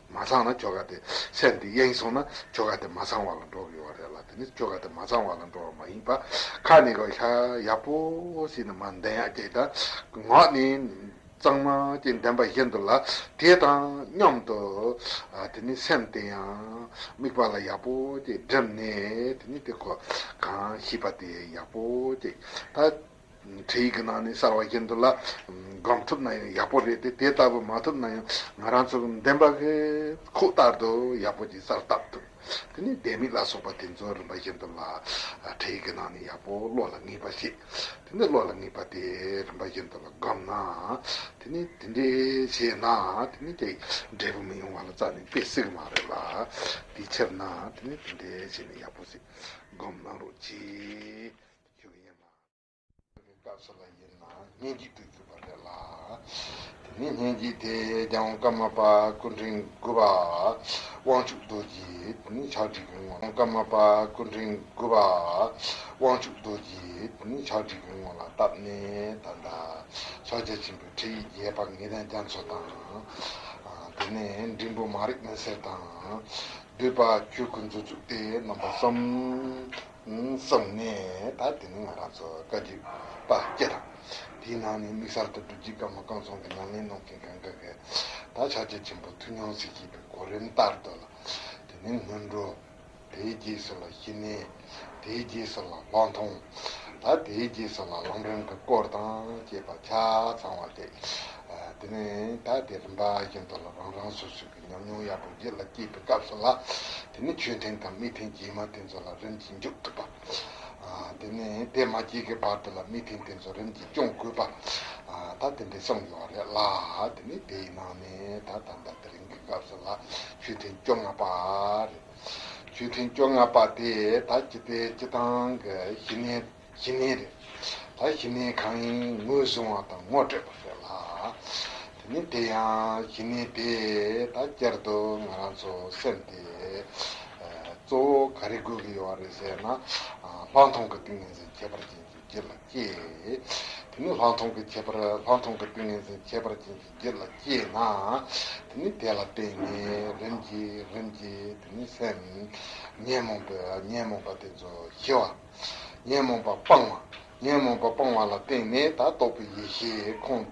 A: མ་ཚང་ན་ཁྱོ་ག་དེ་སེམས་དེ་གཡེང་སོང་ན་ཁྱོ་ག་དེ་མ་ཚང་བ་ལ་འགྲོ་དགོས་བ་རེད་ལ་དེ་ནི་ཁྱོ་ག་དེ་མ་ཚང་བ་ལ་འགྲོ་བ་མ་ཡིན་པ་ཁ་ནི་གོ་ཤ་ཡག་པོ་ཞིག་ནི་མ་འདེན་ཡག་སྐྱེས་ད་ངག་ནི་གཙང་མ་ཅིག་འདེན་པ་བཞིན་དུ་ལ་དེ་དང་མཉམ་དུ་དེ་ནི་སེམས་དེ་ཡང་དམིགས་པ་ལ་ཡག་པོ་ཅིག་བསྒྲིམས་ནས་དེ་ནི་དེ་གོ་གང་ཤིས་པ་དེ་ཡག་པོ་ཅིག་ད། འཕྲལ་ཡིག་གི་ནང་ནས་གསར་བ་རྒྱན་དུ་ལ་སྒོམ་ཐུབ་ན་ཡང་ཡག་པོ་རེད་དེ་དེ་ལྟ་བུ་མ་ཐུབ་ན་ཡང་ང་རང་ཚོ་བདེན་པ་གི་ཁུག་ལྟར་དུ་ཡག་པོ་ཅིག་གསར་བཏབ་ཐུབ་དེ་ནས་ལྡེ་མིག་ལ་སོགས་པ་དེ་ཚོ་རིམ་པ་བཞིན་དུ་ལ་འཕྲལ་ཡིག་གི་ནང་ནས་ཡག་པོ་བློ་ལ་ངེས་པ་ཞིག་དེ་ནས་བློ་ལ་ངེས་པ་དེ་རིམ་པ་བཞིན་དུ་ལ་སྒོམ་ན་དེ་ནས་དེ་འདྲས་བྱས་ན་དེ་ནས་དེ་འབྲས་བུ་མི་ཡོང་བ་ལ་རྩ་ནས་དཔེ་སྲིད་གི་མ་རེད་ལ་དེའི་ཕྱིར་ན་དེ་ནས་དེ་འདྲས་བྱས་ནས་ཡག་པོ་ཞིག་སྒོམ་གནང་རོགས་གྱིས། རྒྱུ་ཡིན་ལ། ཞེས་པའི་སྐབས་སུ་ལ་ཡིན་ན་སྙན་གྱི་དུས་ཚུད་པ་རེད་ལ། དེ་ནས་སྙན་གྱི་དེས་ཀྱང་ཀརྨ་པ་སྐུ་ཕྲེང་དགུ་པ་དབང་ཕྱུག་རྡོ་རྗེ་ནི་ཕྱག་བྲིས་ཀྱི་ངོ་ལ་ཀརྨ་པ་སྐུ་ཕྲེང་དགུ་པ་དབང་ཕྱུག་རྡོ་རྗེ་ནི་ཕྱག་བྲིས་ཀྱི་ངོ་ལ་བཏབ་ནས་ད་ལྟ་ཤཱཀྱ་ཆེན་པོའི་ཁྲིད་ཡིག་རྒྱས་པར་ངེས་ལྡན་རྒྱ་མཚོ་དང། དེ་ནས་འབྲིང་པོ་མ་རིག་མུན་སེལ་དང། བསྡུས་པ་ཆོས་སྐུ་མཛོད་བཙུགས་ཏེ་རྣམ་པ་གསུམ། གསུངས་ནས་ད་དེ་ནི་ང་རང་ཚོ་བཀའ་བརྒྱུད་པ་སྐད་དང། དེའི་ནང་ནས་དམིགས་བསལ་དུ་སྒྲུབ་བརྒྱུད་བཀའ་མོ་བསྐང་གསུང་གི་ལམ་ལེན་གནང་མཁན་གང་གཱ་གའི་ད་ཕྱག་རྒྱ་ཆེན་པོ་ཐུགས་མྱོང་གཟིགས་ཞེས་པའི་གོ་རིམ་ལྟར་དུ་ལ་དེ་ནས་སྔོན་འགྲོ། དེའི་རྗེས་སུ་ལ་ཞི་གནས། དེའི་རྗེས་སུ་ལ་ལྷག་མཐོང། ལ་དེའི་རྗེས་སུ་ལ་ལམ་རིམ་གྱི་སྐོར་དང་བཅས་པ་ཆ་ཚང་བ་སྟེ། དེ་ནས་ད་དེ་རིམ་པ་བཞིན་དུ་ལ་རང་རང་སོ་སོའི་ཉམས་མྱོང་ཡག་པོ་རྗེས་ལ་སྐྱེས་པའི་སྐབས་སུ་ལ། དེ་ནི་ཆོས་ཐེངས་དང་མི་ཐེངས་རྗེས་མ་དེ་ཚོ་ལ་རིམ་གྱིས་འཇུག་ཐུབ་པ། དེ་ནི་དེ་མ་སྐྱེས་ཀའི་བར་དུ་ལ་མི་ཐེངས་དེ་ཚོ་རིམ་གྱིས་སྐྱོང་དགོས་པ། ད་དེ་འདྲའི་བསམ་ཡོད་རེད་ལ། དེ་ནི་དེའི་ནང་ནས་ད་ད་ལྟ་དེ་རིང་གི་སྐབས་སུ་ལ་ཆོས་ཐེངས་བཅོ་ལྔ་པ་རེད། ཆོས་ཐེངས་བཅོ་ལྔ་པ་དེས་ད་ཅི་སྟེ་ཅི་དང་གི་ཞི་གནས། གཞི་མེད་རེད། ད་གཞི་མེད་གང་ཡིན་ངོས་བཟུང་བ་དང་ངོ་སྤྲད་པ་ཟེར་ལ། དེ་ནི་དེ་ཡང་གཞི་མེད་པས་ད་བསྐྱར་དུ་ང་རང་ཚོ་སེམས་དེ་གཙོ་བོ་ག་རེ་དགོས་ཀྱི་ཡོད་རེད་ཟེར་ན། ལྷག་མཐོང་གི་ཏིང་ངེ་འཛིན་ཁྱད་པར་ཅན་གྱི་རྒྱུད་ལ་སྐྱེས། དེ་ནི་ལྷག་མཐོང་གི་ཁྱད་པར་ལྷག་མཐོང་གི་ཏིང་ངེ་འཛིན་ཁྱད་པར་ཅན་གྱི་རྒྱུད་ལ་སྐྱེས་ན། དེ་ནི་དེ་ལ་བརྟེན་ནས་རིམ་གྱིས་རིམ་གྱིས་དེ་ནི་སེམས། ཉོན་མོངས་པའི་ཉོན་མོངས་པ་དེ་ཚོ་ཞི་བ། ཉོན་མོངས་པ་སྤང་བ། ཉོན་མོངས་པ་སྤང་བ་ལ་བརྟེན་ནས་དག་རྟོགས་པའི་ཡེ་ཤེས་ཁོང་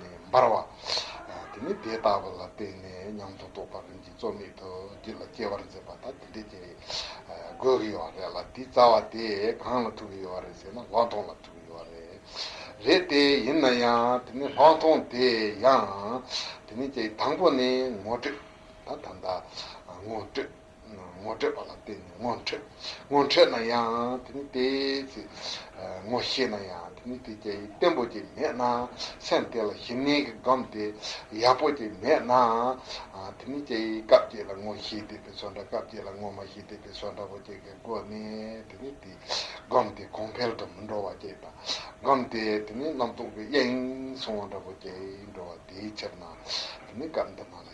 A: ནས་འབར་བ། དེ་ནི་དེ་དག་པ་ལ་བརྟེན་ནས་ཉམས་སུ་རྟོགས་པ་རིམ་གྱིས་རྩོལ་མེད་དུ་རྒྱུད་ལ་སྐྱེ་བར་མཛད་པ་དང་དེ་འདྲའི་སྐྱེ་བའི་དགོས་ཀྱི་ཡོད་རེད་ལ་དེའི་རྩ་བ་དེ་གང་ལ་ཐུག་གི་ཡོད་རེད་ཟེར་ན་ལྷག་མཐོང་ལ་ཐུག་གི་ཡོད་རེད། རེད་དེ་ཡིན་ན་ཡང་དེ་ནི་ལྷག་མཐོང་དེ་ཡང་དེ་ནི་དང་པོ་ནི་ངོ་སྤྲོད་དང་ད་ལྟ་ངོ་སྤྲོད། ངོ་སྤྲད་པ་ལ་བརྟེན་ནས་ངོ་འཕྲད། ངོ་འཕྲད་ན་ཡང་དེ་ནི་དེའི་ཚེ། ངོ་ཤེས་ན་ཡང་དེ་ནི་དེ་རྒྱ་ཡིས་བརྟན་པོ་དེ་མེད་ན། སེམས་དེ་ལ་ཞི་གནས་ཀྱི་སྒོམ་དེ་ཡག་པོ་དེ་མེད་ན། དེ་ནི་རྒྱ་ཡིས་སྐབས་དེ་ལ་ངོ་ཤེས་བསྡད་པའི་ཚོར་འདྲ་སྐབས་དེ་ལ་ངོ་མ་ཤེས་བསྡད་པའི་ཚོར་འདྲ་བོ་བསྐྱེད་ཀྱི་སྒོ་ནས་དེ་ནི་དེ་སྒོམ་དེ་གོང་འཕེལ་དུ་མི་འགྲོ་བ་བསྐྱེད་པ་སྒོམ་དེ་དེ་ནི་རྣམ་རྟོག་གི་གཡས་གཡོན་སོང་བ་འདྲ་བོ་བསྐྱེད་འགྲོ་བ་དེའི་ཕྱིར་ན་དེ་ནི་སྐབས་འདི་མ་ལགས།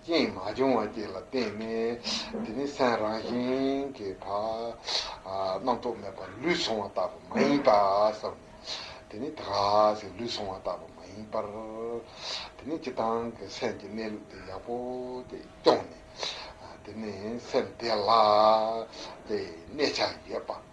A: རྐྱེན་མ་བྱུང་བ་བཅས་ལ་བརྟེན་ནས་དེ་ནི་སེམས་རང་བཞིན་གྱིས་བར་རྣམ་རྟོག་མེད་པར་ལུས་སོང་བ་ལྟ་བུ་མ་ཡིན་པ་བསམས་ནས། དེ་ནི་དག་ཅིང་ལུས་སོང་བ་ལྟ་བུ་མ་ཡིན་པར། དེ་ནི་སྤྱི་དང་གི་སེམས་ཀྱི་གནས་ལུགས་དེ་ཡག་པོ་དེ་སྐྱོང་ནས། དེ་ནི་སེམས་བདེ་ལགས་ཏེ་གནས་ཆགས་ཡོད་པ།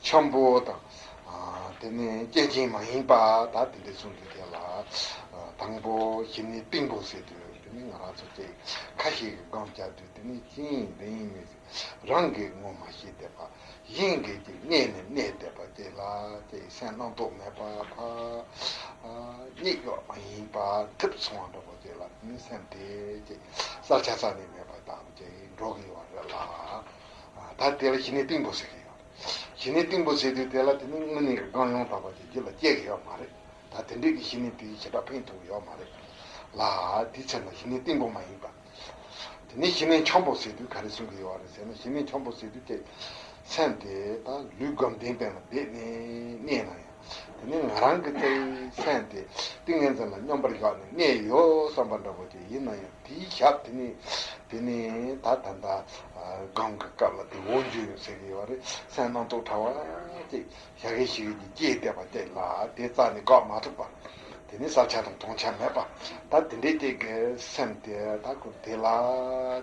A: འཁྱམས་པོ་དང། དེ་ནི་སྐྱེད་ཅིང་མ་ཡེངས་པ་དག་དེ་འདི་མཚུངས་ཀྱི་དེ་ལ། དང་པོ་ཞི་ནི་སྟེང་འཕོངས་སེ་དུ་དེ་ནི་ང་རང་ཚོ་སྐྱེ། ཁ་ཞིག་གི་སྒང་སྐྱ་དུ་དེ་ནི་ཅི་ཡིན་འདི་ཡིན་མི་ཤེས། རང་གིས་ངོ་མ་ཤེས་བསྡད་པ། གཞན་གྱིས་ཀྱི་བསྙད་ནས་གནས་བསྡད་པ་སྐྱེ་ལ་སྐྱེ་ཡི་སེམས་སྣང་དོགས་མེད་པ་འཕགས། སྙེག་གཡོགས་མ་ཡེངས་པ་ཐིབས་ཚོང་བ་འདྲ་བོ་སྐྱེ་ལ་དེ་ནི་སེམས་དེ་སྐྱེ། བསགས་ཆ་ས་ནི་མེད་པ་དག་དག་ཀྱི་འགྲོགས་ཡོང་བ་རེད་ལ། ད་དེ་ལ་ཞི་ནི་སྟེང་འཕོངས་སེ་ཀྱི་ཡོད། ཞི་གནས་གཏིང་པོ་བྱས་དུས་དེ་ལ་དེ་ནི་དངོས་གནས་ཀྱི་སྒང་ཡོངས་དག་པ་དེ་རྒྱུད་ལ་སྐྱེ་གི་ཡོད་མ་རེད་ད་དེ་འདྲས་ཀྱི་ཞི་གནས་དེའི་བྱེད་སྒྲ་ཕན་ཐོགས་ཀྱི་ཡོད་མ་རེད་ལ། དེའི་ཚེ་ན་ཞི་གནས་གཏིང་པོ་མ་ཡིན་པར། དེ་ནས་ཞི་གནས་འཁྱམས་པོ་བྱས་དུས་ག་རེ་གསུང་གི་ཡོད་རེད་ཟེར་ན་ཞི་གནས་འཁྱམས་པོ་བྱས་དུས་ཐེག་ཆེན་དེ་དང་ལུས་སྒམ་གདན་སྟེང་ལ་བསྡད་ནས་གནས་ན་ཡང། དེ་ནི་ང་རང་གི་རྩེད་མཚན་དེ་ཏིང་ངེ་འཛིན་ལ་སྙོམས་པར་བཞག་ནས་གནས་ཡོད་བསམ་པ་འདྲ་བོ་དེ་ཡིན་ན་ཡང་དེའི་ཞབས་དེ་ནི། དེ་ནི་ད་ད་ལྟ་སྒང་གི་སྐབས་ལ་དེ་འོ་འཇོ་ཡོད་ཟེར་གི་ཡོད་རེད་སེམས་སྣང་སྟོང་ཕྲ་བ་ཅིག་ཞག་གེ་ཞིག་གིས་སྐྱེས་བསྡད་པ་དེ་ལ་དེ་རྩ་ནས་འགག་མ་ཐུབ་པ། དེ་ནི་བསགས་ཆ་དང་མཐོང་ཆ་མེད་པ། ད་དེ་འདྲའི་སྐྱེས་གི་སེམས་དེ་ད་ཁུ་དེ་ལ་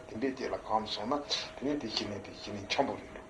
A: དེ་འདྲའི་སྐྱེས་ལ་གང་དུ་སོང་ན་དེ་ནི་དེ་ཤི་ནས་དེ་ཤི་ནས་འཁྱམས་པོ་རེད་འདུག།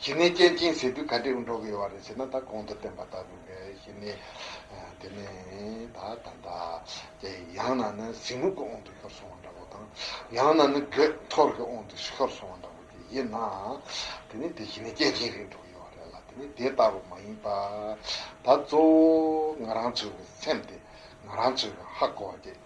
A: གཞི་ནས་སྐྱེ་འཆིང་ཟེར་དུས་ག་དུས་འགྲོ་གི་ཡོད་བ་རེད་ཟེར་ན་ད་གོང་དུ་བསྟན་པ་ལྟ་བུ་འདྲ་ཞིག་ནི། དེ་ནས་ད་ད་ད་དེ་ཡང་ན་ནི་གཟིགས་མོ་དགོས་འོང་དུ་ཤོར་སོང་བ་འདྲ་བོ་དང། ཡང་ན་ནི་དགོད་ཐོར་གྱི་འོང་དུ་ཤོར་སོང་བ་འདྲ་བོ་དེ་ཡིན་ན། དེ་ནི་དེ་གཞི་ནས་སྐྱེ་འཆིང་རིགས་འགྲོ་གི་ཡོད་བ་རེད་ལ་དེ་ནི་དེ་ལྟ་བུ་མ་ཡིན་པ། ད་གཙོ་བོ་ང་རང་ཚོའི་སེམས་དེ་ང་རང་ཚོའི་ཧ་གོ་བ་དེ།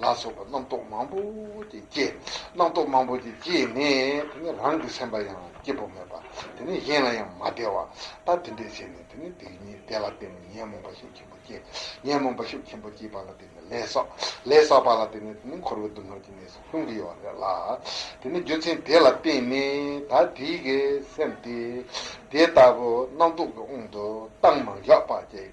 A: ལ་སོགས་པ་རྣམ་རྟོག་མང་པོ་དེ་སྐྱེ། རྣམ་རྟོག་མང་པོ་དེ་སྐྱེས་ནས་དེ་ནི་རང་གི་སེམས་པ་ཡང་སྐྱེ་བོ་མེད་པ་དེ་ནི་གཞན་ལ་ཡང་མ་བདེ་བ་ལྟ་དེ་འདྲས་བྱས་ནས་དེ་ནི་དེ་ཉིད་དེ་ལ་བརྟེན་ནས་ཉོན་མོངས་པ་ཤུགས་ཆེན་པོ་སྐྱེ། ཉོན་མོངས་པ་ཤུགས་ཆེན་པོ་སྐྱེས་པ་ལ་བརྟེན་ནས་ལས་བསགས། ལས་བསགས་པ་ལ་བརྟེན་ནས་དེ་ནི་འཁོར་བའི་སྡུག་བསྔལ་གྱི་གནས་སུ་ལྷུང་གི་ཡོད་པ་རེད་ལ། དེ་ནི་རྒྱུ་མཚན་དེ་ལ་བརྟེན་ནས་ད་དེའི་གེགས་སེམས་དེ་དེ་ལྟ་བུ་རྣམ་རྟོག་གི་དབང་དུ་བཏང་མ་འཇོག་པ་བཅས།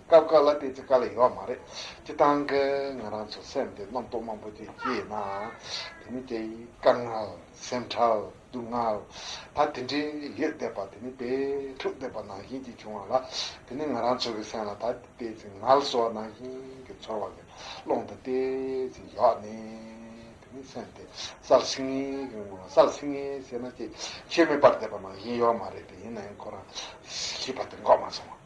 A: སྐབས་འགའ་ལ་བལྟས་ཚེ་དཀའ་ལས་ཡོད་མ་རེད། སྤྱིར་བཏང་གི་ང་རང་ཚོའི་སེམས་དེ་རྣམ་རྟོག་མང་པོ་དེ་སྐྱེས་ཡོད་ནའང། དེ་ནི་དེ་དཀའ་ངལ། སེམས་ཁྲལ། སྡུག་བསྔལ། ད་དེ་འདྲའི་ཡོད་བསྡད་པ་དེ་ནི་དཔེ་ཕྲུག་བསྡད་པ་ནང་བཞིན་གྱིས་བྱུང་བ་ལ། དེ་ནི་ང་རང་ཚོ་གི་སེམས་ལ་ད་བལྟས་ཚེ་ངལ་གསོ་བ་ནང་བཞིན་གྱི་ཚོར་བ་གི་ཀློང་དུ་བལྟས་ཚེ་ཡོད་ནས། དེ་ནི་སེམས་དེ་སལ་སིང་ངེ་གི་ངང་ལ་སལ་སིང་ངེ་ཟེར་ན་ཅིག་ཤོས་མེད་པར་བསྡད་པ་ནང་བཞིན་ཡོད་མ་རེད་དེ་ཡིན་ནའང་ཁོ་རང་ཤི་བ་དེ་འགོག་མ་སོང།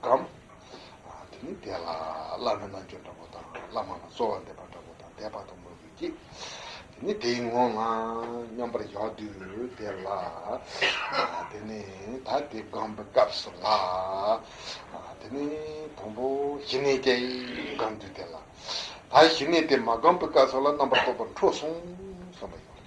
A: སྒམ། དེ་ནི་དེ་ལ་བླ་ན་མེད་འབྱོན་འདྲ་བོ་དང་བླ་མ་ལ་གསོལ་བ་འདེབས་པ་འདྲ་བོ་དང་དད་པ་དང་མོས་གུས་ཀྱིས། དེ་ནི་དེའི་ངོ་ང་སྙོམས་པར་ཞོག་དུས་དེ་ལ། དེ་ནི་ད་དེ་སྒོམ་པའི་སྐབས་སུ་ལགས། དེ་ནི་དང་པོ་ཞི་གནས་ཀྱི་སྒོམ་དུས་དེ་ལ། ད་ཞི་གནས་དེ་མ་སྒོམ་པའི་སྐབས་སུ་ལ་རྣམ་པར་རྟོག་པ་འཕྲོ་གསུམ་སོང་བ་ཡིན།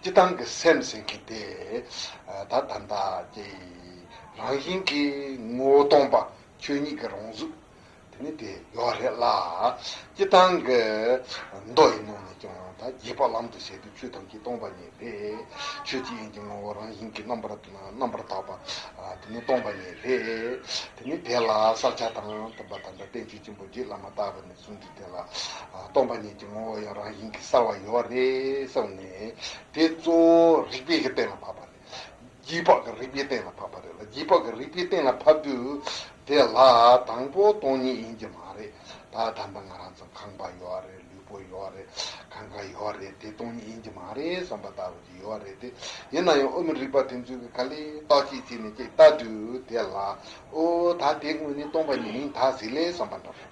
A: སྤྱི་བཏང་གི་སེམས་ཟེར་གི་དེ་ད་ད་ད་ཀྱི་རང་བཞིན་གྱི་ངོ་བོ་སྟོང་པ་ཆོས་ཉིད་ཀྱི་རང་གཟུགས་དེ་ནི་དེ་ཡོད་རེད་ལ། སྤྱི་བཏང་གི་མདོ་ཡི་ནང་ནས་ཀྱང་ད་རྒྱས་པ་ལམ་དུ་བྱེད་དུ་ཆོས་ཐམས་ཅད་སྟོང་པ་ཉིད་རེད། ཆོས་ཀྱི་དབྱིངས་ཀྱི་ངོ་བོ་རང་བཞིན་གྱི་རྣམ་པར་རྣམ་པར་དག་པ་དེ་ནི་སྟོང་པ་ཉིད་རེད། དེ་ནི་དེ་ལ་བསགས་བྱ་དང་མཐུན་པ་ད་ལྟ་བསྟན་བཅོས་ཆེན་པོ་རྗེ་བླ་མ་ལྟ་བུ་ནི་གསུངས་ཏེ་དེ་ལ་སྟོང་པ་ཉིད་ཀྱི་ངོ་བོ་ཡང་རང་བཞིན་གྱིས་གསལ་བར་ཡོད་རེད་བསམས་ནས། དེ་གཙོ་བོ་རིག་པའི་གཏན་ལ་ཕབ་པ་རེད། རྒྱུད་དཔག་གི་རིག་པའི་གཏན་ལ་ཕབ་པ་རེད་ལ་རྒྱུད་དཔག་གི་རིག་པའི་གཏན་ལ་ཕབ་དུས་དེ་ལ་དང་པོ་སྟོང་ཉིད་ཡིན་གྱི་མ་རེད་ད་ད་ལྟ་ང་རང་ཚོ་ཁང་པ་ཡོད་རེད་ལུས་པོ་ཡོད་རེད་ཁ་ཁ་ཡོད་རེད་དེ་སྟོང་ཉིད་ཡིན་གྱི་མ་རེད་བསམ་པ་ལྟ་བུ་དེ་ཡོད་རེད་དེ་ཡིན་ན་ཡང་ཨོ་མི་རིག་པ་དེ་ཚོས་གི་ག་ལས་རྟག་ཅིག་བྱས་ནས་ཅིག་བལྟ་དུས་དེ་ལ་ཨོ་ད་དེ་དངོས་གནས་སྟོང་པ་ཉིད་ཡིན་ད་ཟིག་ལེ་བསམ་པ་འདྲ་རེད།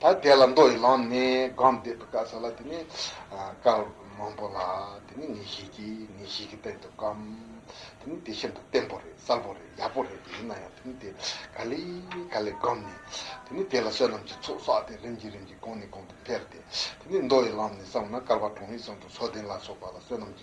A: ད་དེ་ལ་མདོ་ཡི་ལམ་ནས་སྒོམ་བཟླས་པའི་བཀའ་ཟེར་ལ་དེ་ནི། བཀའ་མང་པོ་ལ་དེ་ནི་ངེས་ཤེས་ཀྱིས་ངེས་ཤེས་ཀྱི་དཔལ་དུ་བསྒོམ། དེ་ནི་དེ་ཤིན་ཏུ་བརྟན་པོ་རེད་གསལ་པོ་རེད་ཡག་པོ་རེད་དེ་ཡིན་ན་ཡང་དེ་ནི་དེ་ག་ལས་ག་ལས་བསྒོམ་ནས། དེ་ནི་དེ་ལ་བསོད་ནམས་ཀྱི་ཚོགས་བསགས་ཏེ་རིམ་གྱིས་རིམ་གྱིས་གོང་ནས་གོང་དུ་འཕེལ་ཏེ། དེ་ནི་མདོ་ཡི་ལམ་ནས་བསམས་ན་ཀར་བ་གྲོང་ཡིག་ཙམ་དུ་མཚོ་ལྡན་ལ་སོགས་པ་ལ་བསོད་ནམས་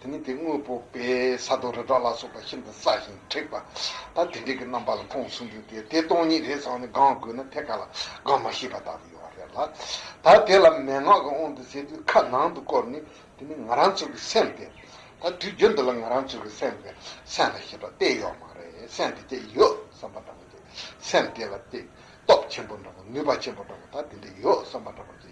A: དེ་ནི་དེ་དངོས་པོ་པས་ས་རྡོ་རི་བྲག་ལ་སོགས་པ་ཤིན་ཏུ་སྲ་ཞིང་མཁྲེགས་པ་དང་དེ་འདྲའི་གི་རྣམ་པ་ལ་མཐོང་ཟུང་འཇུག་སྟེ་དེ་སྟོང་ཉིད་རེད་ཟེར་བ་ནི་སྒང་དགོས་ན་ཐད་ཀ་ལ་སྒང་མ་ཤེས་པ་དག་ཏུ་ཡོད་བ་རེད་ལ། ད་དེ་ལ་མན་ངག་གི་དབང་དུ་བྱས་དུས་ཁ་ནང་དུ་བསྐོར་ནས་དེ་ནི་ང་རང་ཚོ་གི་སེམས་ཏེ། ད་དུས་རྒྱུན་འདི་ལ་ང་རང་ཚོ་གི་སེམས་པས་སེམས་ལ་ཞེས་པ་གཏད་ཡོད་མ་རེད་སེམས་དེ་ཅི་ཡོད་བསམ་པ་འདྲ་པོ་བྱེད་སེམས་དེ་ལ་ཏེ། སྟོབས་ཆེན་པོ་འདྲ་པོ་ནུས་པ་ཆེན་པོ་འདྲ་པོ་དག་དེ་འདྲ་ཡོད་བསམ་པ་འདྲ་པོ་བྱེད།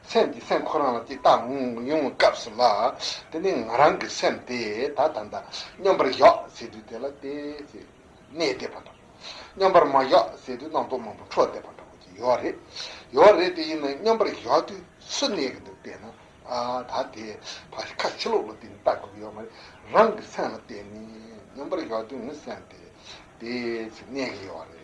A: སེམས་ཀྱི་སེམས་ཁོ་རང་ལ་ཅིག་བཏགས་ཡོང་བའི་སྐབས་སུ་ལ། དེ་ནས་ང་རང་གི་སེམས་དེ་ད་ད་ད་སྙོམས་པར་ཞོག་ཟེར་དུས་དེ་ལ་དེ་ཟེར་ནས་བསྡད་པ་འདྲ། སྙོམས་པར་མ་ཞོག་ཟེར་དུས་རྣམ་རྟོག་མང་པོ་འཕྲོ་བསྡད་པ་འདྲ་བོ་ཅིག་ཡོད་རེད། ཡོད་རེད་དེ་ཡིན་ན་སྙོམས་པར་ཞོག་དུས་སུ་གནས་ཀྱི་འདུག་བལྟས་ན་ད་དེ་ཕ་ཤི་ཁ་ཤི་ལོག་ལ་བལྟས་ནས་བལྟ་དགོས་ཀྱི་ཡོད་མ་རེད། རང་གི་སེམས་ལ་བལྟས་ནས་སྙོམས་པར་ཞོག་དུས་ངའི་སེམས་དེ་དེ་ཟེར་གནས་ཀྱི་ཡོད་རེད།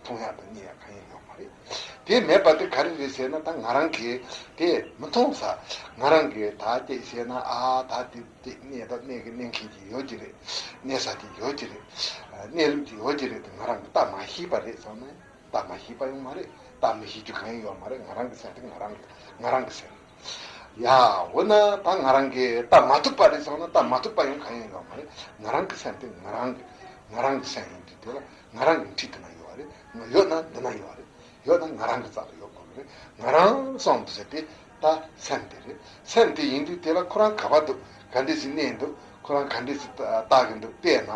A: མཐོང་ཡག་དང་རྙེད་ཡག་གང་ཡང་ཡོག་མ་རེད། དེ་མེད་པ་དེ་ག་རེ་རེད་ཟེར་ན་ད་ང་རང་གིས་དེ་མི་མཐོང་ས། ང་རང་གིས་ད་བལྟས་བཤད་ན་ཨ་ད་དེ་བལྟས་གནས་ད་གནས་ཀྱི་གནས་མཁན་གྱི་ཡོད་ཀྱི་རེད། གནས་ས་ཀྱི་ཡོད་ཀྱི་རེད། གནས་ལུགས་ཀྱི་ཡོད་ཀྱི་རེད་དེ་ང་རང་གིས་ད་མ་ཤེས་པ་རེད་ཟེར་ན་ད་མ་ཤེས་པ་ཡང་མ་རེད་ད་མི་ཤེས་རྒྱུ་གང་ཡང་ཡོག་མ་རེད་ང་རང་གིས་ཟེར་དེ་ང་རང་གིས་ང་རང་གིས་ཟེར། ཡང་འོ་ན་ད་ང་རང་གིས་བལྟ་མ་ཐུབ་པ་རེད་ཟེར་བ་ན་བལྟ་མ་ཐུབ་པ་ཡང་གང་ཡིན་ཡོད་མ་རེད། ང་རང་གི་སེམས་དེ་ང་རང་གི་ང་རང་གི་སེམས་ཡིན་དུས་དེ་ལ་ང་རང་གི་འཁྲིས་འདི་ན་ཡོད་རེད། ཡོད་ན་འདི་ན་ཡོད་རེད། ཡོད་ན་ང་རང་གི་རྩ་ལ་ཡོད་དགོས་པ་རེད། ང་རང་སོང་འདུག་ཟེར་དེ་ད་སེམས་དེ་རེད། སེམས་དེ་ཡིན་དུས་དེ་ལ་ཁོ་རང་ག་བ་འདུག་ག་འདྲས་ཞིག་གནས་འདུག་ཁོ་རང་ག་འདྲས་ཞིག་བལྟ་གི་འདུག་བལྟས་ན་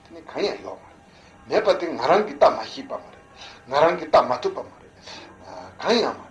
A: དེ་ནི་གང་ཡང་ཡོད་མ་རེད། མེད་པ་དེ་ང་རང་གིས་བལྟ་མ་ཤེས་པ་མ་རེད། ང་རང་གིས་བལྟ་མ་ཐུབ་པ་མ་རེད། གང་ཡང་མ་རེད།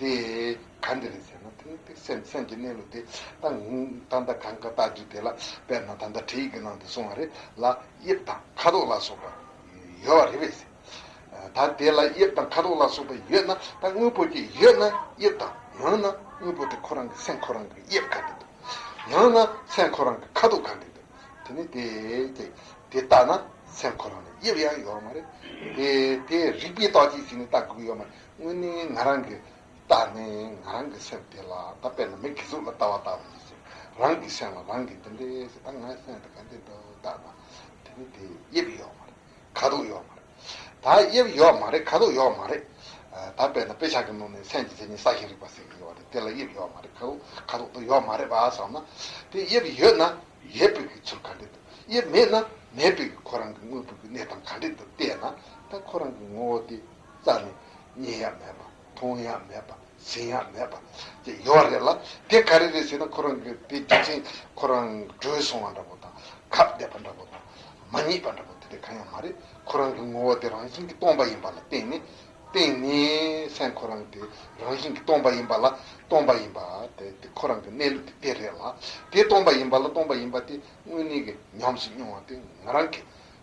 A: དེ་གང་གི་རེད་ཟེར་ན་དེ་དེ་སེམས་སེམས་ཀྱི་གནས་ལུགས་དེ་ད་ལྟ་གང་ག་བཏགས་རྒྱུ་དེ་ལ་དཔེར་ན་ད་ལྟ་བྲིས་ཀྱི་ནང་དུ་སོང་བ་རེད་ལ་དབྱིབས་དང་ཁ་དོག་ལ་སོགས་པ་ཡོད་བ་རེད་བས་ཟེར། ད་དེ་ལ་དབྱིབས་དང་ཁ་དོག་ལ་སོགས་པ་ཡོད་ན་ད་དངོས་པོ་དེ་ཡོད་ན་དབྱིབས་དང་ཡང་ན་དངོས་པོ་དེ་ཁོ་རང་གི་སེམས་ཁོ་རང་གི་དབྱིབས་གང་གི་འདུག་ཡང་ན་སེམས་ཁོ་རང་གི་ཁ་དོག་གང་གི་འདུག་དེ་ནི་དེ་དེ་དེ་ལྟ་ན་སེམས་ཁོ་རང་ལ་དབྱིབས་ཡང་ཡོད་མ་རེད་དེ་དེ་རིགས་པའི་རྟགས་ཅིག་ཞིག་ནི་ལྟ་དགོས་ཀྱི་ཡོད་མ་རེད། དངོས་གནས་ང་རང་གི་རྟགས་ནི་ང་རང་གི་སེམས་དེ་ལ་ད་དཔེར་ན་མི་གི་གཟུགས་ལ་ལྟ་བ་ལྟ་བུ་ཡིན་ཞིང་རང་གི་སེམས་ལ་རང་གིས་འདི་འདྲའི་ཞེས་ད་ངའི་སེམས་དེ་ག་འདི་འདྲ་འོ་ད་ང་དེ་ནི་དེ་དབྱིབས་ཡོད་མ་རེད་ཁ་དོག་ཡོད་མ་རེད་ད་དབྱིབས་ཡོད་མ་རེད་ཁ་དོག་ཡོད་མ་རེད་ད་དཔེར་ན་དཔེ་ཆ་གི་ནང་ནས་སེམས་ཀྱི་མཚན་ཉིད་གསར་ཞིག་རིག་པ་ཟེར་གྱི་ཡོད་རེད་དེ་ལ་དབྱིབས་ཡོད་མ་རེད་ཁ་དོག་དོ་ཡོད་མ་རེད་བ་བསམ་ན་དེ་དབྱིབས་ཡོད་ན་ཡོད་དཔེ་གི་ཚུལ་ག་འདྲས་འདུག་དབྱིབས་མེད་ན་མེད་དཔེ་གི་ཁོ་རང་གི་དངོས་པོ་གི་གནས་སྟངས་ག་འདྲས་འདུག་བལྟས་ན་ད་ཁོ་རང་གི་ངོ་བོ་དེ། རྩ་ནི། མཉན་ཡག་མེད་པ། མཐོང་ཡག་མེད་པ། ཟིན་ཡག་མེད་པ། ཅེས་ཡོད་རེད་ལ། དེ་ག་རེ་རེད་ཟེར་ན་ཁོ་རང་གི་བུ་དེ་ཚེ་ཁོ་རང་བྲོས་སོང་བ་འདྲ་པོ་དང། ཁ་བདེ་བ་འདྲ་པོ་དང། མ་རྙེད་པ་འདྲ་པོ་དེ་དེ་གང་ཡང་མ་རེད། ཁོ་རང་གི་ངོ་བོ་དེ་རང་བཞིན་གྱིས་སྟོང་པ་ཡིན་པ་ལ་བརྟེན་ནས། བརྟེན་ནས། སེམས་ཁོ་རང་དེ་རང་བཞིན་གྱིས་སྟོང་པ་ཡིན་པ་ལ། སྟོང་པ་ཡིན་པ། དེ་དེ་ཁོ་རང་གི་གནས་ལུགས་དེ་དེ་རེད་ལ། དེ་སྟོང་པ་ཡིན་པ་ལ་སྟོང་པ་ཡིན་པ་དེ་དངོས་གནས་ཀྱི་ཉམས་སུ་མྱོང་བ་དེ་ང་རང་གི།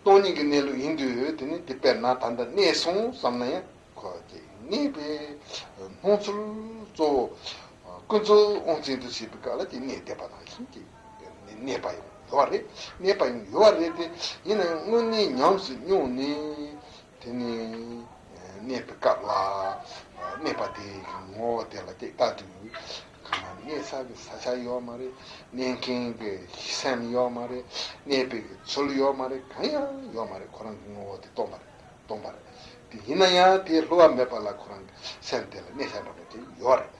A: སྟོང་ཉིད་ཀྱི་གནས་ལུགས་ཡིན་དུས་དེ་ནི་འདི་དཔེར་ན་ད་ལྟ་གནས་སོང་བསམ་ན་ཡང་གོ་སྐྱེ་ངེས་པས་སྣང་ཚུལ་གཙོ་བོ་ཀུན་རྫོབ་དབང་ཅན་དུ་བྱེད་པའི་སྐབས་ལ་དེ་གནས་བདེ་བ་དང་ལྷན་ཅིག་གནས་པ་ཡང་ཡོད་པ་རེད་གནས་པ་ཡང་ཡོད་པ་རེད་དེ་ཡིན་ན་དངོས་གནས་ཉམས་སུ་མྱོང་ནས། དེ་ནི་གནས་པའི་སྐབས་ལ་གནས་པ་དེའི་ངོ་བོ་དེ་ལ་སྟེ་ལྟ་དུས་གང་ན་གནས་ས་གི་ས་ཆ་ཡོད་མ་རེད་གནས་མཁན་གྱི་སེམས་ཡོད་མ་རེད་གནས་པའི་གི་ཚུལ་ཡོད་མ་རེད་གང་ཡང་ཡོད་མ་རེད་ཁོ་རང་གི་ངོ་བོ་དེ་སྟོང་པ་རེད་སྟོང་པ་རེད་དེ་ཡིན་ན་ཡང་དེའི་ལྷུ་བ་མེད་པ་ལ་ཁོ་རང་གི་སེམས་དེ་ལ་གནས་ས་འདྲ་པོ་དེ་ཡོད་རེད་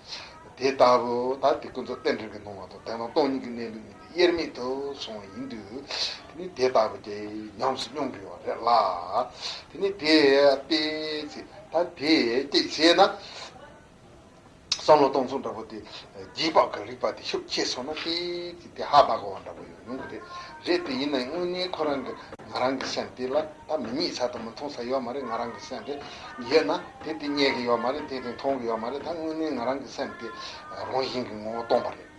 A: དེ་ལྟ་བུ་དང་དེ་ཀུན་རྫོབ་རྟེན་འབྲེལ་གྱི་སྣང་བ་དང་དེ་དང་སྟོང་ཉིད་ཀྱི་གནས་ལུགས་གཉིས་དབྱེར་མེད་དུ་སོང་བ་ཡིན་དུས། དེ་ནི་དེ་ལྟ་བུ་དེ་ཉམས་སུ་མྱོང་དགོས་པ་རེད་ལ། དེ་ནི་དེས་དཔེ་བྱས་ད་དེས་དཔྱད་བྱས་ན། བསམ་བློ་གཏོང་ཚུལ་འདྲ་པོ་དེ་རྗེས་དཔག་གི་རིགས་པ་དེ་ཤུགས་ཆེ་སོང་ན་དཔེ་བྱས་དེ་ཧ་བག་བ་འདྲ་པོ་ཡོང་ཡོང་གི་རེད་རེད་དེ་ཡིན་ན་དངོས་གནས་ཁོ་རང་གི་ང་རང་གི་སེམས་དེ་ལ་ད་མི་རྙེད་ས་དང་མི་མཐོང་ས་ཡོད་མ་རེད་ང་རང་གི་སེམས་དེ་ཡོད་ན་དེ་དེ་རྙེད་གི་ཡོད་མ་རེད་དེ་དེ་མཐོང་གི་ཡོད་མ་རེད་ད་དངོས་གནས་ང་རང་གི་སེམས་དེ་རང་བཞིན་གྱི་ངོ་བོ་སྟོང་པ་རེད།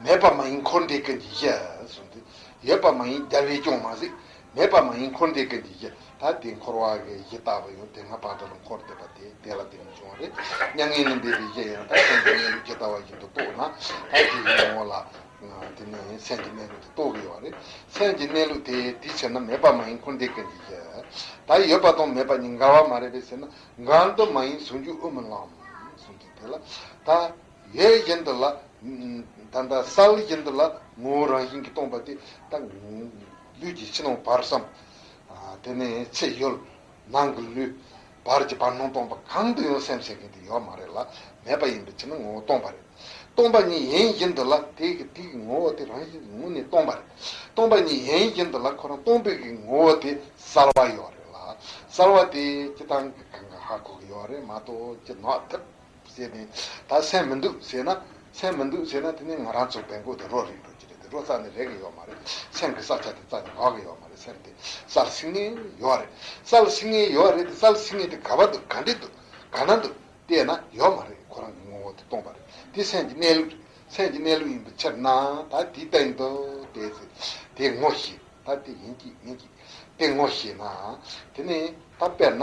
A: མེད་པ་མ་ཡིན་འཁོར་འདས་ཀུན་གྱི་གཞི། ཡོད་པ་མ་ཡིན་རྒྱལ་བས་སྐྱོང་མ་གཟིགས། མེད་པ་མ་ཡིན་འཁོར་འདས་ཀུན་གྱི་གཞི། ད་དེ་འཁོར་བ་འགའི་གཞི་བཏགས་པ་ཡང་དེ་སྔ་བག་དྲ་ལ་འཁོར་འདས་པ་དེ་དེ་ལ་དེ་མི་འབྱུང་བ་རེད་སྙམ། ངན་ལུགས་འབེབས་པའི་གཞི་ཡང་ད་སེམས་ཀྱི་གནས་ལུགས་ཇི་ལྟ་བ་བཞིན་དུ་རྟོགས་ན། ད་དེ་ཡི་ངོ་བོ་ལ། དེ་ནི་སེམས་ཀྱི་གནས་ལུགས་དེ་རྟོགས་དགོས་པ་རེད། སེམས་ཀྱི་གནས་ལུགས་དེ་དེ་ཕྱིར་ན་མེད་པ་མ་ཡིན་འཁོར་འདས་ཀུན་གྱི་གཞི། ད་ཡོད་པ་དང་མེད་པ་གཉིས་འགལ་བ་མ་རེད་པས་ཟེར་ན་འགལ་འདུ་མ་ཡིན་ཟུང་འཇུག་དབུ་མི་ལམ། དེ་ལ་ད། ལས་གཞན་དུ་ལ། ད་ལྟ་སལ་གཞན་དུ་ལ་ངོ་བོ་རང་བཞིན་གྱིས་སྟོང་པ་དེ་ལྟ། ལུས་ཀྱི་ཕྱི་ནང་བར་བསམ། དེ་ནས་ཚེ་ཡོད། ནང་གི་ལུས། བར་གྱི་བར་སྣང་སྟོང་པ་གང་དུ་ཡང་སེམས་བྱེད་མཁན་དེ་ཡོད་མ་རེད་ལ་མེད་པ་ཡིན་པའི་ཕྱིར་ན་ངོ་བོ་སྟོང་པ་རེད། སྟོང་པ་ཉིད་ཡན་བཞིན་དུ་ལ་དེ་གི་དེ་གི་ངོ་བོ་དེ་རང་བཞིན་གྱི་ངོ་ནི་སྟོང་པ་རེད། སྟོང་པ་ཉིད་ཡན་བཞིན་དུ་ལ་ཁོ་རང་སྟོང་པའི་གི་ངོ་བོ་དེ་སལ་བ་ཡོད་རེད་ལ་སལ་བ་དེ་སྤྱི་དང་གི་གང་ག་ཧ་གོ་གི་ཡོད་རེད་མ་གཏོགས་ཅི་ནོག་ཐུབ། ཟེར་ནས། ད་སེམས་མི་འདུག་ཟེར་ན། སེམས་མི་འདུག་ཟེར་ན་དེ་ནི་ང་རང་ཚོ་བལ་མགོ་དེ་རོ་རེག་འགྲོ་གི་རེད་དེ་རོ་རྩ་ནི་རེག་གི་ཡོད་མ་རེད། སེམས་ཀྱི་རྩ་ཆ་དེ་རྩ་ནི་འགག་གི་ཡོད་མ་རེད་སེམས་དེ་རྩར་སིང་ངེ་ཡོད་རེད། རྩར་སིང་ངེ་ཡོད་རེད་དེ་རྩར་སིང་ངེ་དེ་ག་བ་འདུག་ག་འདྲེ་འདུག་ག་ན་འདུག་བལྟས་ན་ཡོད་མ་རེད་ཁོ་རང་གི་ངོ་བོ་དེ་སྟོང་པ་རེད་དེ་སེམས་ཀྱི་གནས་ལུགས་རེད་སེམས་ཀྱི་གནས་ལུགས་ཡིན་པའི་ཕྱིར་ན་ད་དེའི་སྟེང་དུ་བལྟས་ཚེ་དེ་ངོ་ཤེས་ད་དེ་ཡིན་གྱི་མིན་གྱི་དེ་ངོ་ཤེས་ན་དེ་ནི་ད་དཔེར་ན།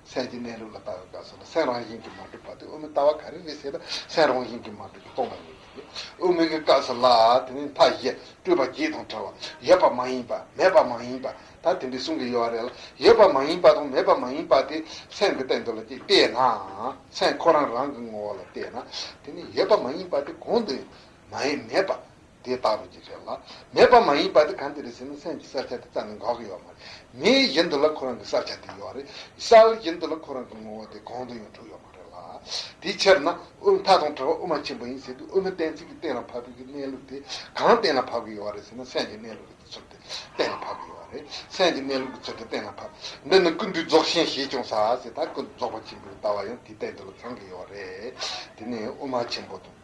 A: སེམས་ཀྱི་གནས་ལུགས་ལ་ལྟ་བའི་སྐབས་སུ་ན་སེམས་རང་བཞིན་གྱིས་མ་གྲུབ་པ་དེ་དབུ་མའི་ལྟ་བ་ག་རེ་རེད་ཟེར་ན་སེམས་རང་བཞིན་གྱིས་མ་གྲུབ་པའི་རྟོག་པ་ཡིན་གྱི། དབུ་མའི་སྐབས་སུ་ལ་དེ་ནི་མཐའ་བཞི་སྤྲུལ་པ་བརྒྱད་དང་བྲལ་བ་ཡོད་པ་མ་ཡིན་པ་མེད་པ་མ་ཡིན་པ་ད་དེ་འདྲའི་གསུང་གི་ཡོད་བ་རེད་ལ་ཡོད་པ་མ་ཡིན་པ་དང་མེད་པ་མ་ཡིན་པ་དེ་སེམས་ཀྱི་སྟེང་དུ་ལ་ཅིག་བལྟས་ན་སེམས་ཁོ་རང་རང་གི་ངོ་བོ་ལ་བལྟས་ན་དེ་ནི་ཡོད་པ་མ་ཡིན་པ་དེ་གང་དུ་ཡང་མེད་པ། དེ་བལྟ་རོ་ཅིག་རེད་ལ། མེད་པ་མ་ཡིན་པ་དེ་གང་དེ་རེད་ཟེར་ན་སེམས་ཀྱི་གསར་ཆ་དེ་རྩ་ནས་འགག་གི་ཡོད་མ་རེད། མིའི་བཞིན་དུ་ལ་ཁོ་རང་གི་གསར་ཆ་དེ་ཡོད་རེད། གསར་བཞིན་དུ་ལ་ཁོ་རང་གི་ངོ་བོ་དེ་གང་དུ་ཡང་གྲུབ་ཡོད་མ་རེད་ལ། དེའི་ཕྱིར་ན། དབུ་མཐའ་དང་བྲལ་བ་དབུ་མ་ཆེན་པོ་ཡིན་ཟེར་དུས་དབུ་མའི་གཏན་ཚིགས་ཀྱི་གཏན་ལ་ཕབ་པའི་གི་གནས་ལུགས་དེ་གང་གཏན་ལ་ཕབ་གི་ཡོད་རེད་ཟེར་ན་སེམས་ཀྱི་གནས་ལུགས་ཀྱི་ཚུལ་དེ་གཏན་ལ་ཕབ་གི་ཡོད་རེད། སེམས་ཀྱི་གནས་ལུགས་ཀྱི་ཚུལ་དེ་གཏན་ལ་ཕབ། འདི་ནི་ཀུན་འདུས་རྫོགས་ཆེན་ཞེས་ཀྱང་ཟ། ཟེར་ད་ཀུན་འདུས་རྫོགས་པ་ཆེན་པོའི་ལྟ་བ་ཡང་དེའི་སྟེང་དུ་ལ་ཚང་གི་ཡོད་རེད། དེ་ནས་དབུ་མ་ཆེན་པོ་དང།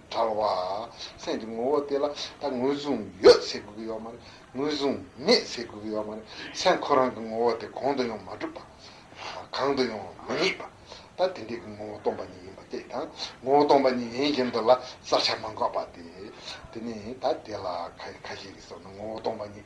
A: བྲལ་བ། སེམས་ཀྱི་ངོ་བོ་དེ་ལ་ད་ངོས་བཟུང་ཡོད་ཟེར་དགོས་ཀྱི་ཡོད་མ་རེད། ངོས་བཟུང་མེད་ཟེར་དགོས་ཀྱི་ཡོད་མ་རེད། སེམས་ཁོ་རང་གི་ངོ་བོ་དེ་གང་དུ་ཡང་མ་གྲུབ་པ། གང་དུ་ཡང་མ་རྙེད་པ། ད་དེ་འདྲའི་གི་ངོ་བོ་སྟོང་པ་ཉིད་ཡིན་པ་དེ་དང་ངོ་བོ་སྟོང་པ་ཉིད་ཡིན་གྱི་འདུག་ལ་བསལ་བྱ་མ་འགགས་པ་དེ། དེ་ནི་ད་དེ་ལ་ཁ་ཤས་ཀྱིས་སོགས་ནི་ངོ་བོ་སྟོང་པ་ཉིད་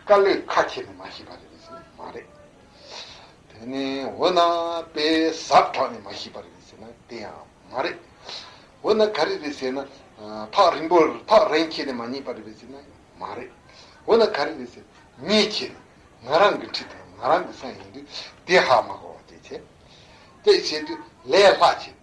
A: དཀའ་ལས་ཁ་ཁྱེར་ནས་མ་ཤེས་པ་རེད་བས་ཟེར་ན་མ་རེད། དེ་ནས་འོ་ན་པའི་ཟབ་དྲག་ནས་མ་ཤེས་པ་རེད་བས་ཟེར་ན་དེ་ཡང་མ་རེད། འོ་ན་ག་རེ་རེད་ཟེར་ན་ཐག་རིང་པོ་ཐག་རིང་ཁྱེར་ནས་མ་རྙེད་པ་རེད་བས་ཟེར་ན་ཡང་མ་རེད། འོ་ན་ག་རེ་རེད་ཟེར་ན་ངས་ཁྱེར་ནས་ང་རང་གི་འཁྲིས་དང་ང་རང་གི་ས་ཡིན་དུས་དེ་ཧ་མ་གོ་བ་དེ་བྱས། དེ་བྱས་དུས་ལས་སླ་བྱས།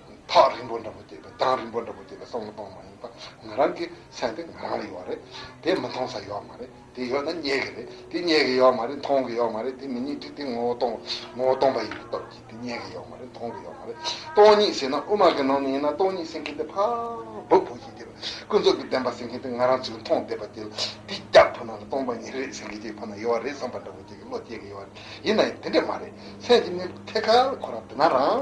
A: ཐག་རིང་པོ་འདྲ་པོ་དེ་བས་གདངས་རིང་པོ་འདྲ་པོ་དེ་བས་སོང་ལ་སྤང་མ་ཡིན་པ་ང་རང་གི་སེམས་དེ་ང་རང་ལ་ཡོད་རེད་དེ་མི་མཐོང་ས་ཡོད་མ་རེད་དེ་ཡོད་ན་རྙེད་གི་རེད་དེ་རྙེད་གི་ཡོད་མ་རེད་མཐོང་གི་ཡོད་མ་རེད་དེ་མི་རྙེད་དུས་དེ་ངོ་བོ་སྟོང་ངོ་བོ་སྟོང་པ་ཡིན་པའི་སྟོབས་ཀྱིས་དེ་རྙེད་གི་ཡོད་མ་རེད་མཐོང་གི་ཡོད་མ་རེད་སྟོང་ཉིད་ཟེར་ན་དབུ་མ་གི་ནང་ནས་ཡིན་ན་སྟོང་ཉིད་ཟེར་མཁན་དེ་འཕགས་བོད་བོད་ཀྱི་དེ་ལ་ཀུན་རྫོབ་ཀྱི་བདེན་པ་ཟེར་མཁན་དེ་ང་རང་ཚོས་མཐོང་བསྡད་པ་དེ་ལ་དེ་སྐྱག་ཕུ་ནང་ལ་སྟོང་པ་ཉིད་རེད་ཟེར་མཁན་གྱི་ཕ་ན་ཡོད་བ་རེད་བསམ་པ་འདྲ་པོ་ཁྱེད་ཀྱི་བློ་སྐྱེ་གི་ཡོད་རེད་ཡིན་ན་ཡང་དེ་འདྲས་མ་རེད་སེམས་ཀྱི་གནས་བབ་ཐད་ཀར་ཁོ་རང་བསྡུ་ན་རང་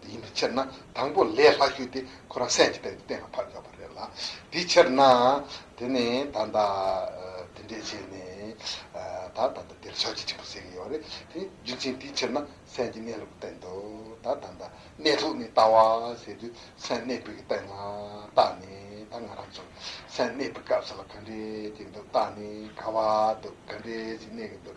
A: དེ་ཡིན་པའི་ཕྱིར་ན་དང་པོ་ལས་ལྷག་ཤོས་དེ་ཁོ་རང་སེམས་ཀྱི་སྟེང་དུ་གཏན་ལ་ཕབ་ཡོད་པ་རེད་ལ། དེའི་ཕྱིར་ན། དེ་ནི་ད་ལྟ། དེ་འདྲའི་ཆེས་ནི། ད་ད་ལྟ་དེར་ཞག་གཅིག་ཆེན་པོ་ཟེར་གྱི་ཡོད་རེད་དེ། རྒྱུ་མཚན་དེའི་ཕྱིར་ན་སེམས་ཀྱི་གནས་ལུགས་སྟེང་དུ། ད་ད་ལྟ་གནས་ལུགས་ནི་ལྟ་བ་ཟེར་དུས་སེམས་གནས་སྤོས་ཀྱི་སྟེང་ལ་བལྟ་ནས་ད་ང་རང་ཚོར་སེམས་གནས་སྤོས་སྐབས་སུ་ལ་ག་འདྲས་ཀྱི་འདུག་བལྟ་ནས་ག་བ་འདུག་ག་འདྲས་ཞིག་གནས་ཀྱི་འདུག་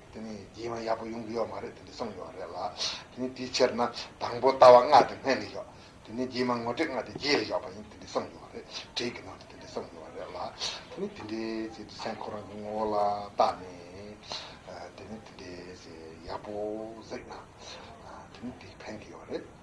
A: དེ་ནི་རྒྱལ་དབང་ཡག་པོ་ཡོང་གི་ཡོད་མ་རེད་དེ་འདྲ་གསུངས་ཡོད་རེད་ལ། དེ་ནི་དེའི་ཕྱིར་ན་དང་པོ་ལྟ་བ་སྔགས་དེ་སྔས་ལས་ཡོག་དེ་ནི་རྒྱལ་དམངས་ངོ་སྤྲད་སྔགས་དེ་རྗེས་ལས་ཡོག་པ་ཡིན་དེ་འདྲ་གསུངས་ཡོད་རེད་བྲིས་ཀྱི་ནང་དུ་དེ་འདྲ་གསུངས་ཡོད་རེད་ལ། དེ་ནི་དེ་འདྲའི་ཚེ་འདྲི་སེམས་ཁོ་རང་གི་ངོ་བོ་ལ་བརྟགས་ནས། དེ་ནི་དེ་འདྲའི་ཚེ་ཡག་པོ་གཟིགས་ན། དེ་ནི་དེ་ཕན་གྱི་ཡོད་རེད།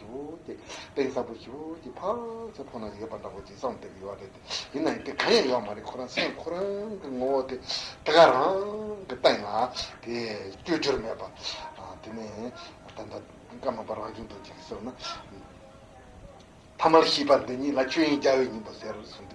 A: སྟེ། དཔེ་གསར་བུ་ཞིག་གི་ཕ་ཚོད་ཁོ་ན་ཡོད་པ་འདྲ་བོ་ཇི་ཙམ་བལྟས་ཀྱི་ཡོད་རེད་དེ། ཡིན་ན་ཡིན་དེ་གང་ཡང་ཡོད་མ་རེད་ཁོ་རང་སེམས་ཁོ་རང་གི་ངོ་བོ་དེ་དེ་ག་རང་གི་སྟེང་ལ་དེ་བཅོས་བསྒྱུར་མེད་པ། དེ་ནས་ད་ལྟ་སྐར་མ་པ་རང་བྱུང་དུ་ཅིག་གསོལ་ན། ཐ་མར་ཤིས་པ་འདི་ཉིད་ལ་ཆོས་དབྱིངས་རྒྱལ་བའི་སྙིང་པོ་ཟེར་གསུངས།